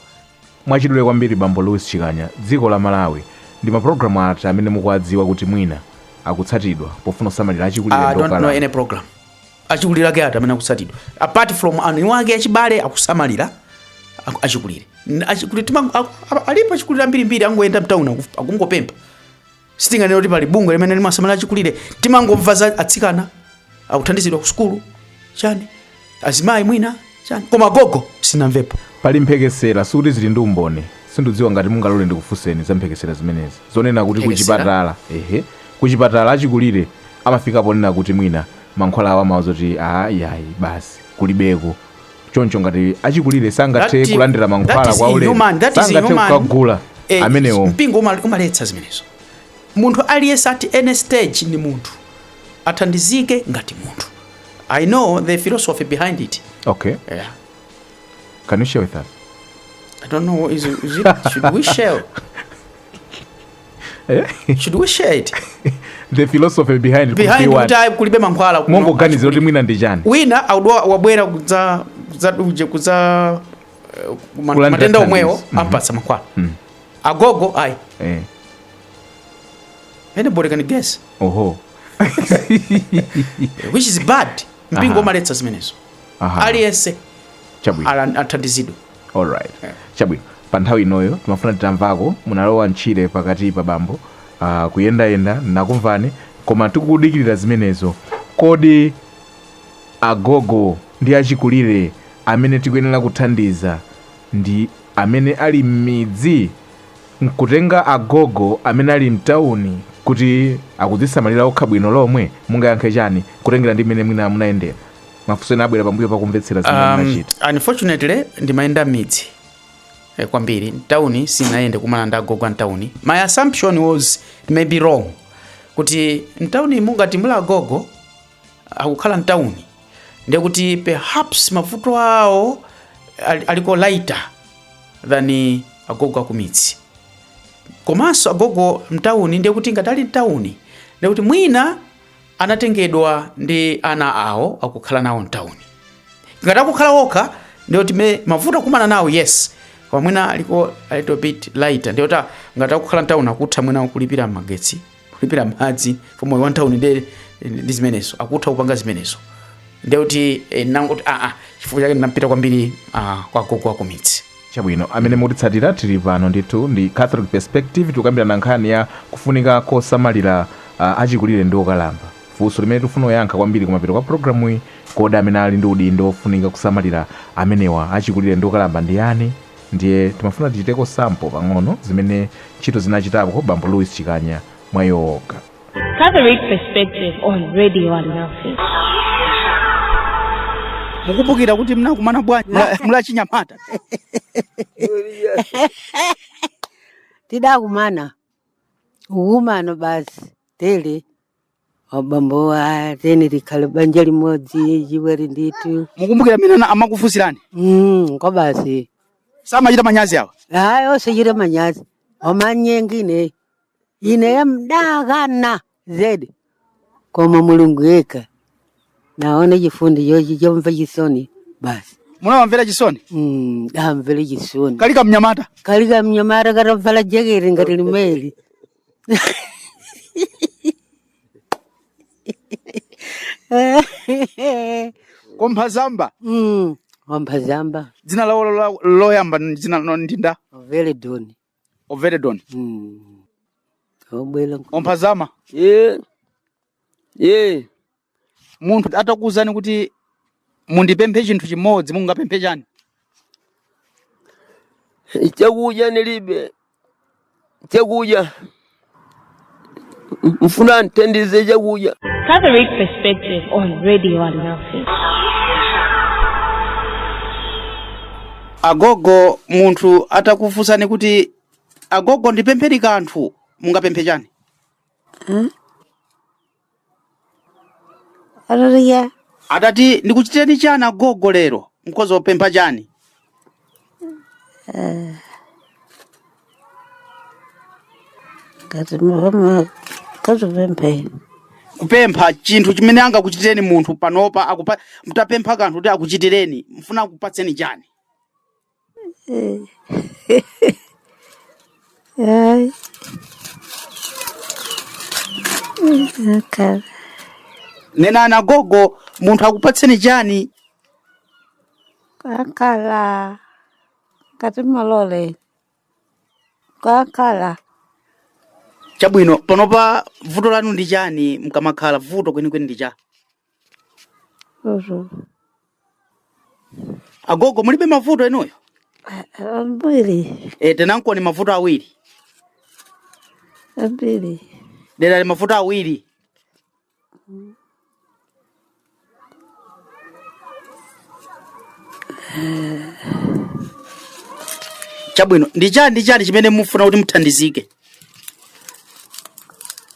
mwachidule kwambiri bambo louis chikanya dziko la malawi ndi mapulogalamu ati amene mukuwadziwa kuti mwina akutsatidwa pofuna kusamalira achikulire I don't know any program achikulire ake ati amene akutsatidwa apart from ana ake achibale akusamalira aku- achikulire N- achikulire tima- aku- a- alipo achikulire ambirimbiri angoyenda mtauni akungopempha sitinganene kuti pali bungwe limene limasamalira achikulire timangomva za atsikana akuthandizidwa ku sukulu chani azimayi mwina chani koma gogo sinamvepo pali mphekesera sikuti zili ndi umboni sindidziwa ngati mungalole ndikufunseni za mphekesera zimenezi zonena kuti Mphekesera? kuchipatala ehe kuchipatala achikulire amafika ponena kuti mwina mankhwala awo amawauza kuti aa yayi basi kulibeko choncho ngati achikulire sangathe That- kulandira that mankhwala is kwa ulere inhuman, that is sangathe inhuman. kukagula Eh, amenewo mpingo uma- umaletsa zimenezo munthu aliyense at any stage ni munthu athandizike ngati munthu i know the philosophy behind it okay yeah. can you share with us i don't know is, is it, should we share Eh? should we share it the philosophy behind it behind kuti kuti ayi kulibe mankhwala kuno. mongoganizira kuti mwina ndi chani wina audwa wabwera kudza kudza uje kudza eh, ma- Kulandira matenda omwewo thandizo. Mhm. ampatsa mankhwala Mm. agogo ayi Eh, anybody can guess oho which is bad mpingo Aha. umaletsa zimenezo Aha, aliyense chabwino ala- athandizidwe alright chabwino pa nthawi inoyo timafuna titamvako munalowa mtchire pakatipa bambo uh, kuyendayenda nakumvani koma tikudikirira zimenezo kodi agogo ndi achikulire amene tikuyenera kuthandiza ndi amene ali m'midzi nkutenga agogo amene ali mtawuni kuti akudzisamalira okha bwino lomwe mungayankhe chani kutengera ndi mmene mwina munayendera mafunso ena abwera pambuyo pakumvetsera zimene um, munachita unfortunately ndimayenda m'midzi eh, kwambiri mtawuni sinayende kumana ndi agogo amtawuni my assumption was it may be wrong kuti mtawunimu ngati muli agogo akukhala mtawuni ndekuti perhaps mavuto awo ali- aliko lighter than agogo akumidzi komanso agogo mtawuni ndekuti ngati ali mtawuni ndekuti mwina anatengedwa ndi ana awo akukhala nawo mtawuni ngati akukhala wokha ndiyoti me mavuto akumana nawo yes koma mwina aliko a little bit lighter ndiyoti ah, ngati akukhala mtawuni akutha mwina kulipira magetsi kulipira madzi pomwe wa mtawuni ndi ndi zimenezo akutha kupanga zimenezo ndiyoti eh, nangoti aa chifukwa chake ndinapita kwambiri ah, kwa agogo akumidzi Chabwino, amene mukutitsatira, tiri pano ndithu ndi Catholic Perspective, tikukambirana nkhani ya kufunika kosamalira a achikulire ndi okalamba. Funso limene tikufuna kuyankha kwambiri kumapeto kwa programuyi, kodi amene ali ndi udindo wofunika kusamalira amenewa, achikulire ndi okalamba ndi yani? Ndiye timafuna tichiteko sample pang'ono zimene ntchito zina achitapo bambo Louis Chikanya mwa iwo okha. Catholic Perspective on Radio Alinafe. mukumbukira kuti mnakumana bwanji mula- muli achinyamata tidakumana ukumano basi tili abambowa tiyeni tikhale banja limodzi chiweri ndithu mukumbukira amene ana- amakufunsirani Mm, kwa basi samachita manyazi awa hayi osachita manyazi omanyenga ine ineyo mdakana zedi koma mulungu yekha naona chifundo chochi chomva chisoni basi munawamvera chisoni Mm, ndamvera chisoni kali kamnyamata kali kamnyamata katavala jeketi ngati limeli komphazamba Mm, wamphazamba dzina lawo lo- loyamba ndi dzina lino ndi ndani Veledoni Oveledoni Mm. Obwela. omphazama Eh. Eh. munthu atakuwuzani kuti mundipemphe chinthu chimodzi mungapemphe chani Chakudya nilibe. Chakudya. mfuna mthandize chakudya Catholic Perspective on Radio Alinafe. agogo munthu atakufunsani kuti agogo ndipempheni kanthu mungapemphe chani Haleluya. atati ndikuchitireni chani agogo lero mukhoza kupempha chani Ngati mama kazipempheni. kupempha chinthu chimene angakuchitireni munthu panopa mutapempha kanthu kuti akuchitireni mufuna akupatseni chani Ay, okay. nenani agogo munthu akupatseni chani Kukhala. Kati malole. Kukhala. chabwino panopa vuto lanu ndi chani mkamakhala vuto kwenikweni ndi cha Uhum. agogo mulibe mavuto inuyo Ambiri, e, tanenankoni mavuto awiri ambiri. dera li mavuto awiri chabwino ndi chani ndi chani chimene mufuna kuti muthandizike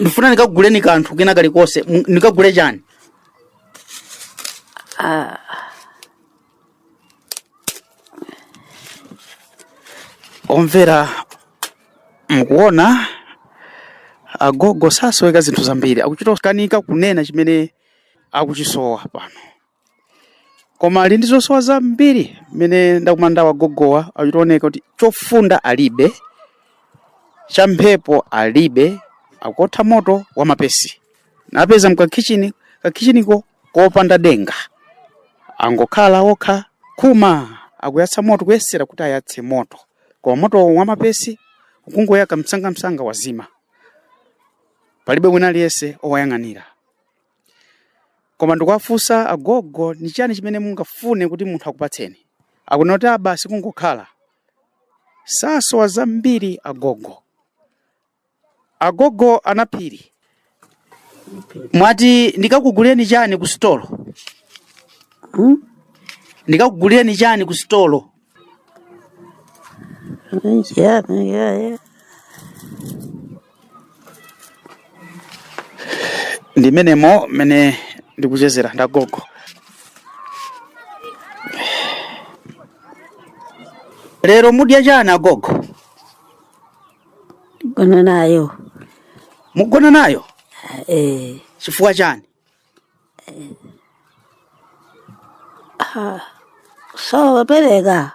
ndifuna ndikakuguleni kanthu kena kalikonse ndikagule chani omvera mukuona agogo sasoweka zinthu zambiri akuchita kukanika kunena chimene akuchisowa pano koma ali ndi zosowa zambiri mmene ndakumana nawo agogowa achita kuoneka kuti chofunda alibe cha mphepo alibe akuotha moto wa mapesi ndapeza mkakhichini kakhichiniko kopanda denga angokhala okha khuma akuyatsa moto kuyesera kuti ayatse moto koma moto wa mapesi ukungoyaka msangamsanga wazima palibe wina aliyense owayang'anira koma ndikuwafunsa agogo ni chani chimene mungafune kuti munthu akupatseni akunena kuti a basi kungokhala sasowa zambiri agogo agogo a Naphiri mwati ndikakugulireni chani ku sitolo hmm? ndikakugulireni chani ku sitolo Yeah, yeah, yeah. ndi menemo mene ndikuchezera ndagogo lero mudya chani agogo Gonna nayo. mugona nayo Eh, chifukwa chani sowa opereka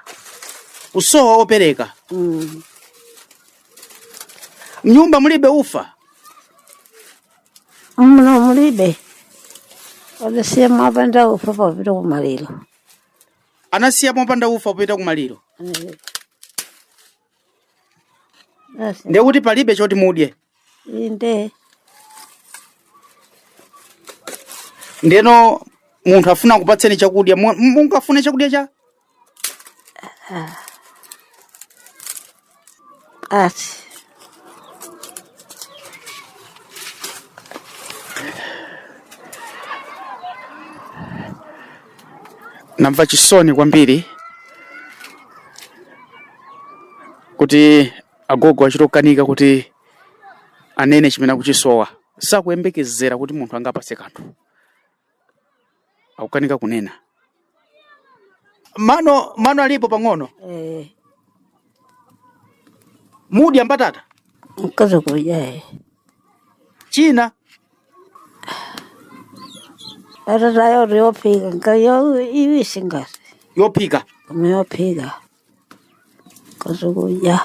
kusowa opereka Mm. mnyumba mulibe ufa muno mulibe anasiya mopanda ufa popita kumaliro anasiya mopanda ufa popita kumaliro Eh, Basi. ndiye kuti palibe choti mudye Inde. ndeno munthu afuna akupatseni chakudya mu- mungafune chakudya chanji. namva chisoni kwambiri kuti agogo achitokanika kuti anene chimene akuchisowa sakuyembekezera kuti munthu angawapatse kanthu akukanika kunena mano mano alipo pang'ono Eh, mudya mbatata mukhoza kudya china Mbatatayo yophika kaya yaiwisi ngati yophika koma yophika kazukudya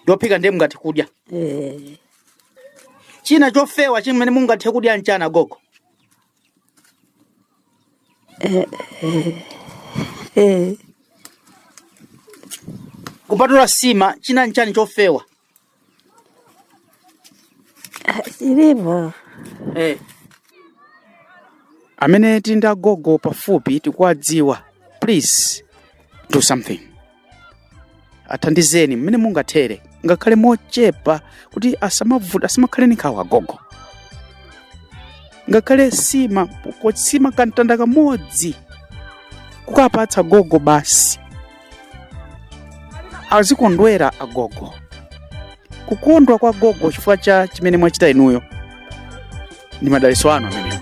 yophika ndiye mungathe kudya eh, china chofewa chimene mungathe kudya nchani gogo eh. kupatula sima china nchani chofewa Chilipo. Eh. amene tili ndi agogo pafupi tikuwadziwa please do something athandizeni mmene mungathere ngakhale mochepa kuti asamavuta asamakhale ni nkhawa agogo ngakhale sima ko- sima kamtanda kamodzi kukapatsa gogo basi azikondwera agogo kukondwa kwa gogo chifukwa cha chimene mwachita inuyo ndi madalitso anu amenewo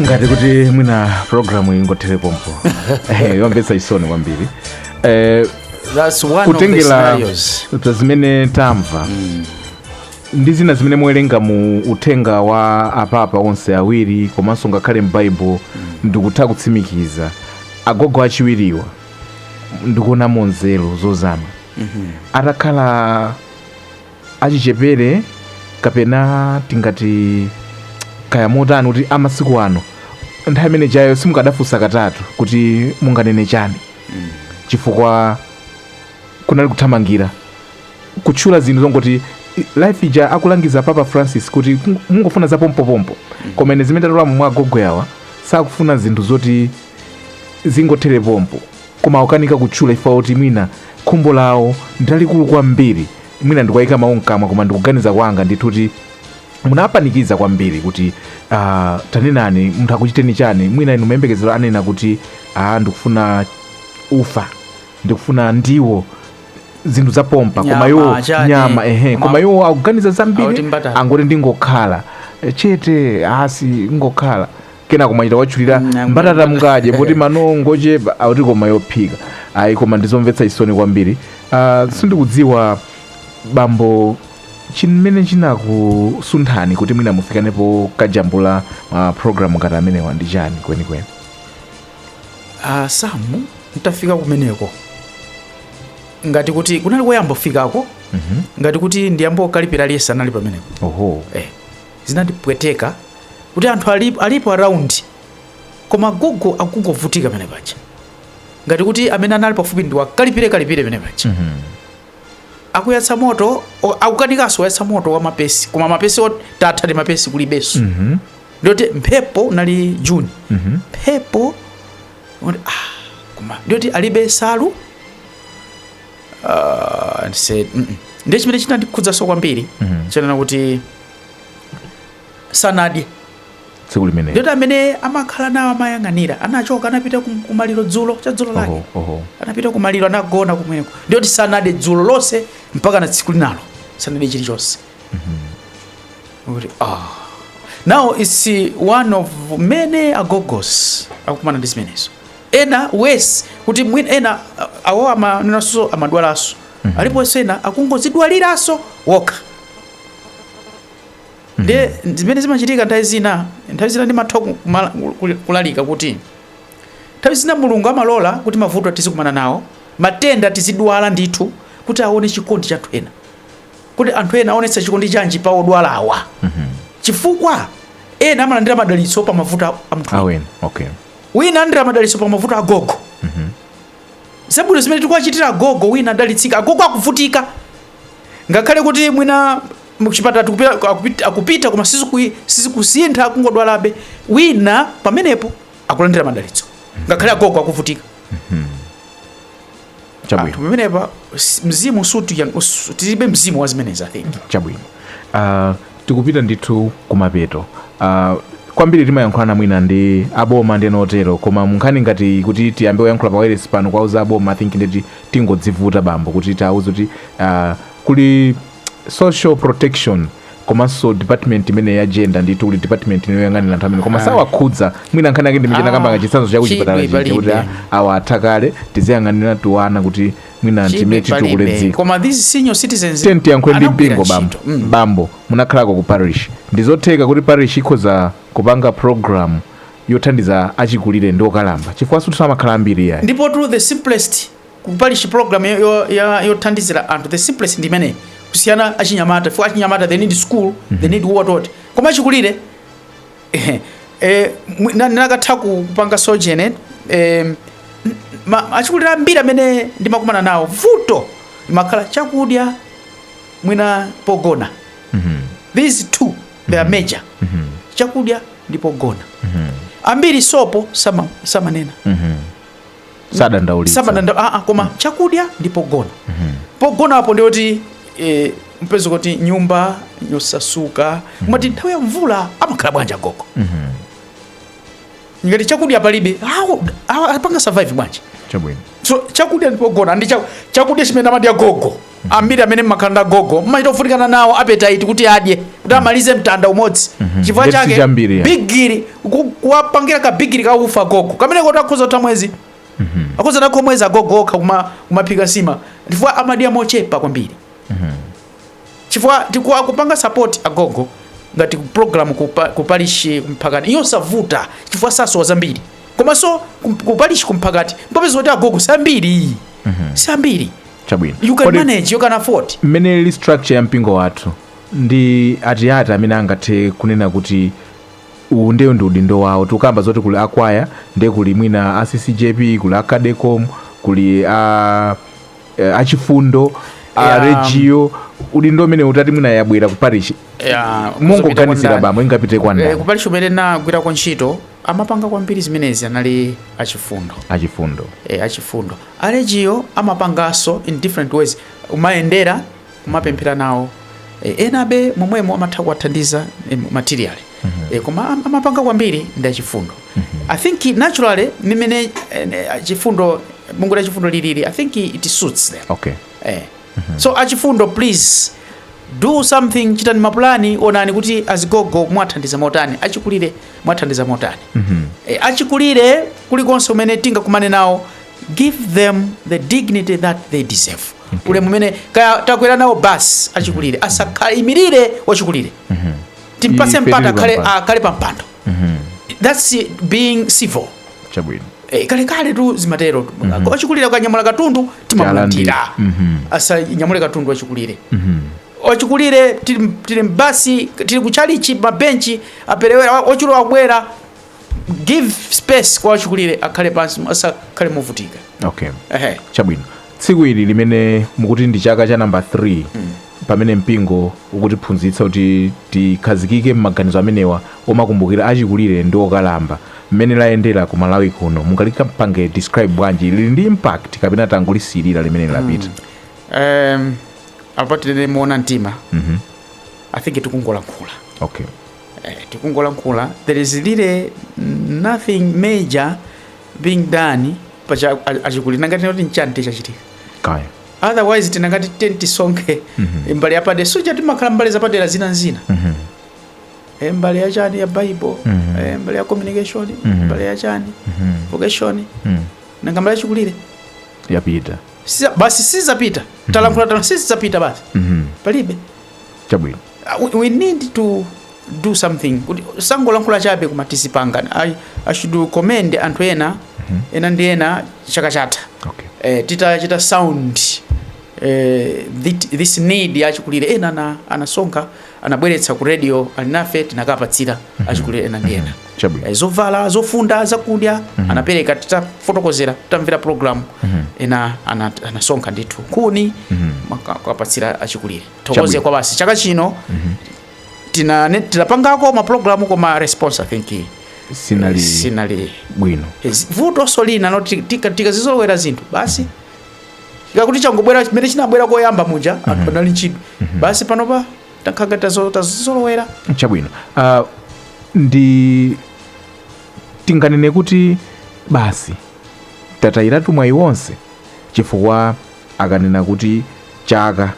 ngati kuti mwina programu ingothere pompo Eh, yomvetsa chisoni kwambiri Eh, That's one of the scenarios. kutengera za zimene tamva ndi zina zimene muwerenga mu uthenga wa apapa onse awiri komanso ngakhale m'baibulo ndikutha kutsimikiza agogo achiwiriwa ndikuonamo nzeru zozama atakhala achichepere kapena tingati kaya motani kuti amasiku ano nthawi imene ijayo simukadafunsa katatu kuti munganene chani mm. chifukwa kunali kuthamangira kutchula zinthu zongoti life ija akulangiza papa francis kuti mungofuna za pompopompo mm. koma ine zimene tatolamu mwa agogo awa sakufuna zinthu zoti zingothere pompo koma akukanika kutchula chifukwa choti mwina khumbo lawo ndilalikulu kwambiri mwina ndikuwaika mawu mkamwa koma ndikuganiza kwanga ndithu kuti munapanikiza kwambiri kuti uh, tanenani munthu akuchiteni chani mwina inu mumayembekezera anena kuti ah, ndikufuna ufa ndikufuna ndiwo zinthu zapompa koma Nyama, iwo chani, nyama ehe koma- koma iwo akuganiza zambiri angoti ndingokhala chete basi kungokhala kenako achita kutchula Mm, amene- mbatata mukadye poti mano ngochepa akuti koma yophika ayi koma ndizomvetsa chisoni kwambiri Ah, sindikudziwa bambo chimene chinakusunthani kuti mwina mufikenso kukajambula ma programu ngati amenewa ndi chani kwenikweni Ah, samu ntafika kumeneko ngati kuti kunali koyamba kufikako ngati kuti ndi a Mbokaliphira Liyesa anali pameneko oho eh. Zinandipweteka kuti anthu alipo, alipo around koma agogo akungovutika pamene paja ngati kuti amene anali pafupi ndi wakalipire kalipire pamene paja mm -hmm. akuyatsa moto o- akukanikanso kuyatsa moto wa mapesi koma mapesi ot- tatha ndi mapesi kulibenso mm -hmm. ndiyoti mphepo unali juni mm -hmm. mphepo oti, ah, koma ndiyoti alibe nsalu Ah, ndise- mm, mm. ndiye chimene chinandikhudzanso kwambiri mm -hmm. chonena kuti sanadye tsiku limenelo ndiyoti amene amakhala nawo amayang'anira anachoka anapita kum- kumaliro dzulo cha dzulo lake Oho, oho. anapita kumaliro anagona kumweko ndiyoti sanadye dzulo lonse mpaka na tsiku linalo sanadye chilichonse Kuti, ah. now its one of many agogos akukumana ndi zimenezo ena worse kuti mwina ena ah, awo amanenanso amadwalanso aliponso ena akungozidwaliranso okha ndiye zimene zimachitika nthawi zina nthawi zina ndimatha kumala- kul- kulalika kuti nthawi zina mulungu amalola kuti mavuto tizikumana nawo matenda tizidwala ndithu kuti aone chikondi cha anthu ena kuti anthu ena aonetsa chikondi chanji pa odwalawa chifukwa ena amalandira madalitso pa mavuto a- a munthu wina okay wina alandira madalitso pa mavuto agogo zabwino zimene tikuwachitira agogo wina adalitsika agogo akuvutika ngakhale kuti mwina mchipatala akupita akupita- akupita koma sizikui- sizikusintha akungodwalabe wina pamenepo akulandira madalitso ngakhale agogo akuvutika chabwino pamenepa s- mzimu suti yang- us- tilibe mzimu wa zimenezi i think chabwino Ah, tikupita ndithu kumapeto Ah, kwambiri timayankhulana mwina ndi aboma ndi ena otero koma munkhani ngati kuti tiyambe kuyankhula pa wailesi pano kuwauza aboma i think nditi tingodzivuta bambo kuti tauza kuti uh, kuli social protection komanso department imene ya gender ndithu kuli department imene yoyang'anira anthu amene koma sawakhudza mwina nkhani yake ndi chimene nakamba chitsanzo cha kuchipatala chija kuti awa atha kale tiziyang'anira tuwana kuti mwina ndimene titukule dziko koma these senior citizens tiyankhule ndi mpingo bambo munakhalako ku parish ndizotheka kuti parish ikhoza kupanga program yothandiza achikulire ndi okalamba chifukwa sikuti amakhala ambiri iyayi. Ndipotu the simplest ku parish program yo- yo- ya- yothandizira anthu the simplest ndi imeneyi kusiyana ndi achinyamata chifukwa achinyamata they need school they need what what koma achikulire eh, eh, mwi- na- nakatha ku- kupanga sojourn eh, n- ma- achikulire ambiri amene ndimakumana nawo vuto limakhala chakudya mwina pogona these two they are major chakudya ndi pogona ambiri sopo sama- samanena sadandaulitsa koma chakudya ndi pogona pogonapo ndi woti eh, mupeza kuti nyumba yosasuka mumati nthawi ya mvula amakhala bwanji agogo ngati chakudya palibe awo awo apanga survive bwanji chabwino so chakudya ndipogona ndi cha- chakudya chimene amadya gogo ambiri amene mumakhala ndi agogo mmachita kuvutikana nawo appetite kuti adye kuti amalize mtanda umodzi chifukwa chake bigiri ku- kuwapangira ka bigiri ka ufa gogo kamene kuti akhoza kutha mwezi akhoza kutha ako mwezi agogo okha kuma- kumaphika nsima chifukwa amadya mochepa kwambiri chifukwa ti kupanga support agogo ngati program kupa, ku parish kumphakati ndiyosavuta chifukwa sasowa zambiri komanso kum- ku parish kumphakati mupeza kuti agogo si ambiri si ambiri chabwino you can manage you can afford mmene ili structure ya mpingo wathu ndi ati ati amene angathe kunena kuti uwu ndiye uwu ndi udindo wawo tikukamba zoti kuli akwaya ndiye kuli mwina a ccjp kuli a cadecom kuli a eh, achifundo a Legio udindo umene utati mwina yabwera ku parish mongoganizira bambo ingapite kwa ndani kuparishi umene nagwirako ntchito amapanga kwambiri zimenezi anali achifundo achifundo eh, achifundo a Legio amapanganso in different ways kumayendera kumapemphera nawo e, enabe momwemo amatha kuwathandiza e, materially mm -hmm. e, koma amapanga kwambiri ndi achifundo mm -hmm. i think naturally mimene e, e, achifundo bungwe la chifundo lilili i think it suits them okay. e. mm -hmm. so achifundo please do something chitani mapulani onani kuti azigogo mwathandiza motani achikulire mwathandiza motani mm -hmm. e, achikulire kulikonse kumene tingakumane nawo give them the dignity that they deserve okay. ulemu umene kaya takwera nawo basi achikulire mm-hmm. asakaimirire wachikulire mm-hmm. timpase mpata akhale, akhale pa mpando mm-hmm. that's being civil chabwino eh, kalekaletu zimatero mm-hmm. wachikulire akanyamula katundu timamulandira mm-hmm. asanyamule katundu wachikulire mm-hmm wachikulire tili mbasi tili kuchalichi mabenchi apelewera wachikulire wabwera give space kwa wachikulire akhale pansi asakhale movutika okay Ehe. chabwino tsiku ili limene mukuti ndi chaka cha number 3 pamene mpingo ukutiphunzitsa kuti tikhazikike m'maganizo amenewa omakumbukira achikulire ndi okalamba mmene layendera ku malawi kuno mungalipange describe bwanji lili ndi impact kapena tangolisekerera limene lapita um, apa tinene moona mtima i think tikungolankhula okay Eh, tikungolankhula there is really nothing major being done pa za achikulire ngati kuti nchanichi chachitika kaya otherwise tikanati tiyeni tisonkhe Mhm. mbali yapadera si paja timakhala mbali zapadera zina ndi zina Mhm. Eh, mbali yachani ya bible Mhm. eh, mbali ya communication Mhm. mbali yachani Mhm. vocation Mhm. nanga mbali ya achikulire yapita Siza- basi sizapita talankhula tano sizapita basi Mhm. palibe chabwino Uh, we need to do something kuti tisangolankhula chabe koma tizipanga I, i should commend anthu ena mm -hmm. ena ndi ena chaka chatha okay. eh, titachita sound eh, thi- this need ya achikulire ena ana- anasonkha anabweretsa ku radio alinafe tinakapatsira achikulire ena ndi ena Chabwino. Eh, zovala zofunda zakudya anapereka titafotokozera titamvera programu ena ana- anasonkha ndithu nkhuni nkuka- kapatsira achikulire tithokoze koma basi chaka chino mhm. tina- tinapangako ma program koma response i think sinali sinali bwino vutonso lina nlo tika tikazizolowera zinthu basi mm -hmm. kaya kuti changobwera chimene chinabwera koyamba muja mm -hmm. anthu anali nchidwi mm -hmm. basi panopa takhala ngati tazizolowera chabwino uh, ndi tinganene kuti basi tatayiratu mwayi wonse chifukwa akanena kuti chaka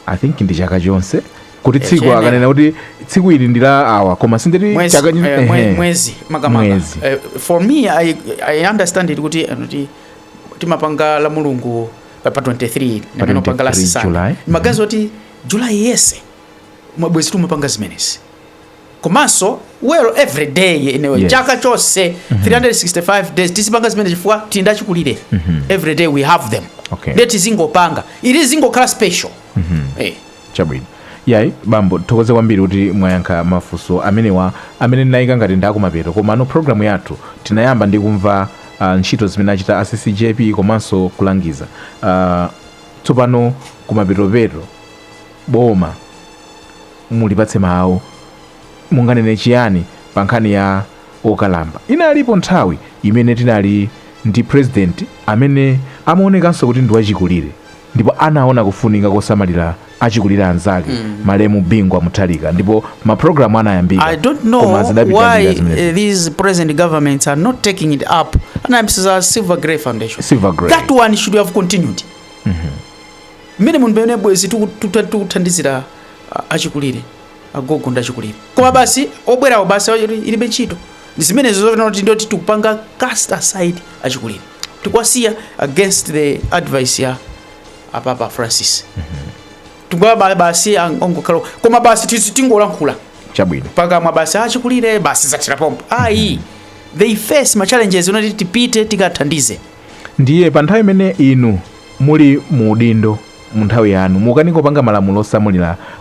i think ndi chaka chonse kuti tsiku chiyenera. akanena kuti tsiku ili ndi la awa koma si ndi mwezi, chaka chi- eh, mwe- ehe. mwezi makamaka Mwezi. Eh, for me I, i understand it kuti eh, kuti timapanga la mulungu pa pa 23 Pa ndi mmene umapanga la 23 sisana July. mmaganizo oti julayi yense mwabwenzi timapanga zimenezi komanso well every day you know, Yes. chaka chonse 365 days tizipanga zimene chifukwa tili ndachikulire every day we have them Okay. ndiye tizingopanga izi zingokhala special Eh. chabwino yayi bambo tithokoze kwambiri kuti mwayankha mafunso amenewa amene ndinayika ngati ndakumapeto komano programu yathu tinayamba ndi kumva uh, ntchito zimene achita a ccjp komanso kulangiza uh, tsopano kumapetopeto boma Mulipatse mawu. Munganene chiyani pa nkhani ya okalamba? Inalipo nthawi imene tinali ndi pulezidenti amene amaonekanso kuti ndi wachikulire ndipo anaona kufunika kosamalira achikulire anzake, malemu Bingu wa Mutharika ndipo mapulogalamu anayambika I don't know koma zidapita I don't know why zimenezi. uh, these present governments are not taking it up. And I'm saying Silver Grey Foundation. Silver Grey. That one should have continued. Mmene munthu pamene bwezi tikuthandizira achikulire agogo ndi achikulire koma basi obwerawo basi ilibe ntchito ndi zimenezo zoti ndi zoti tikupanga cast aside achikulire tikuwasiya against the advice ya apapa francis tikuwa basi ang- ongokhala koma basi tizi tingolankhula chabwino pakamwa basi achikulire basi zathira pompo ayi they face ma challenges unati tipite tikathandize ndiye pa nthawi imene inu muli mu udindo mu nthawi yanu mukukanika kupanga malamulo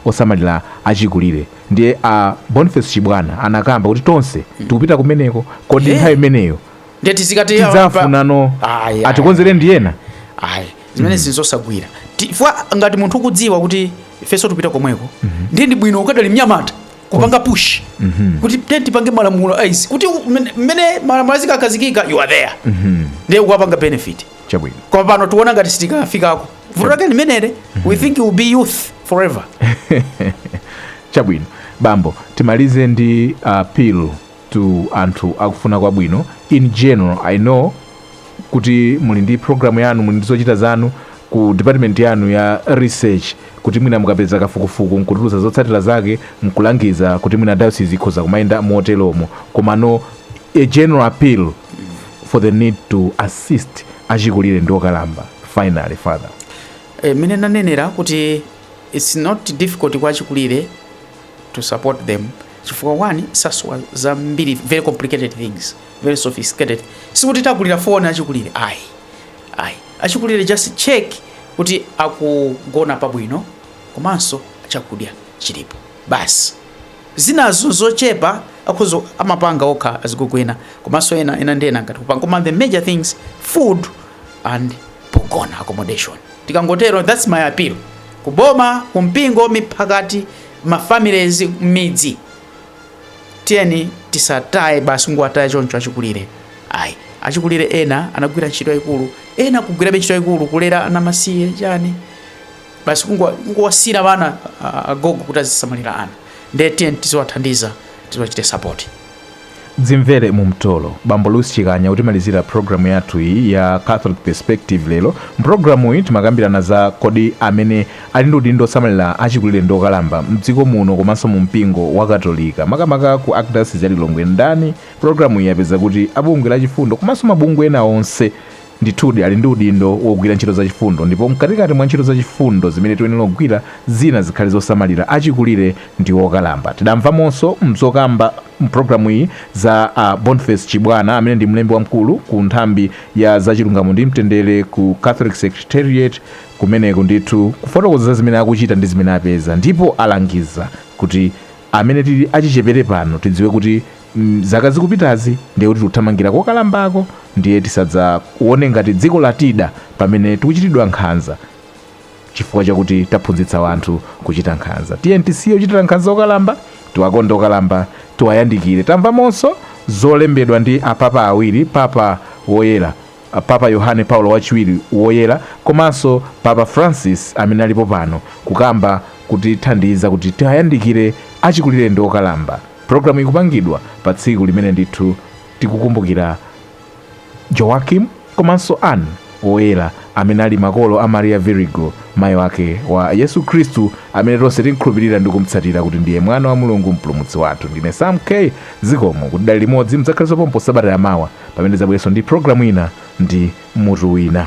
osamalira achikulire ndiye a Boniface Chibwana anakamba kuti tonse tikupita kumeneko kodi Eh. nthawi imeneyo ndiye tizikati yawa pa- tidzafunano Ayi, ayi. atikonzere ndi ena ayi zimene nzosagwira chifukwa ngati munthu ukudziwa kuti ifenso tikupita komweko ndiye ndi bwino ukadali mnyamata kupanga push kuti te tipange malamulo awa kuti u- mmene- mmene malamulo azikakhazikika you are there ndiye ukapanga benefit chabwino koma pano tikuona ngati sitikafikako vuto lake limenelo we think you will be youth forever chabwino bambo timalize ndi appeal to anthu akufuna kwabwino in general i know kuti muli ndi programu yanu muli ndi zochita zanu ku department yanu ya research kuti mwina mukapeza kafukufuku nkutulusa zotsatira zake nkulangiza kuti mwina diocese ikhoza kumayenda motelomo komano a general appeal for the need to assist achikulire ndi okalamba finally father eh, mmene nanenera kuti its not difficult kwa achikulire to support them chifukwa one sasowa zambiri very complicated things very sophisticated sikuti tagulira foni achikulire ayi ayi achikulire just check kuti akugona pabwino komanso chakudya chilipo basi zinazo nzochepa akhoza amapanga okha azigogo ena komanso ena ena ndi ena ngati kupanga koma the major things food and pogona accommodation tikangotero that's my appeal kuboma kumpingo miphakati mafamilies mmidzi tiyeni tisataye basi kungowataya choncho achikulire ayi achikulire ena anagwira ntchito yayikulu ena kugwirabe ntchito yayikulu kulera ana amasiye chani basi kungowasira wana agogo kuti azisamalira ana ndiye tiyeni tiziwathandiza tiziwachita sapoti dzimvere mu mtolo bambo louis chikanya kutimalizira programu yathu iyi ya catholic perspective lero mprogramu iyi timakambirana za kodi amene ali ndi udindo osamalira achikulire ndi okalamba mdziko muno komanso mu mpingo wa katolika makamaka ku archdiocese ya lilongwe ndani programu iyi yapeza kuti abungwe la chifundo komanso mabungwe ena onse Ndithudi, ali ndi udindo wogwira ntchito zachifundo, ndipo mkatikati mwa ntchito zachifundo zimene tiyenera kugwira, zina zikhale zosamalira achikulire ndi okalamba. Tidamvamonso m'zokamba m'programuyi za a Boniface Chibwana amene ndi mlembi wamkulu ku nthambi ya za chilungamo ndi mtendere ku Catholic Secretariat kumeneko ndithu kufotokoza zimene akuchita ndi zimene apeza ndipo alangiza kuti amene tili achichepere pano tidziwe kuti zaka zikupitazi ndiye kuti tikuthamangira kokalambako ndiye tisadzaone ngati dziko latida pamene tikuchitidwa nkhanza chifukwa chakuti taphunzitsa wanthu kuchita nkhanza tiyeni tisiye kuchitira nkhanza okalamba tiwakonde okalamba tiwayandikire tamvamonso zolembedwa ndi apapa awiri papa woyera papa yohane paulo wachiwiri woyera komanso papa francis amene alipo pano kukamba kutithandiza kuti tiwayandikire achikulire ndi okalamba Programuyi ikupangidwa pa tsiku limene ndithu tikukumbukira Joachim komanso Anne woyera amene ali makolo a Maria Virigo mayi wake wa Yesu Khristu amene tonse timkhulupirira ndi kumtsatira kuti ndiye mwana wa Mulungu mpulumutsi wathu. Ndine Sam K zikomo kuti tidali limodzi mudzakhalenso pompo sabata yamawa pamene ndidzabwerenso ndi programu ina ndi mutu wina.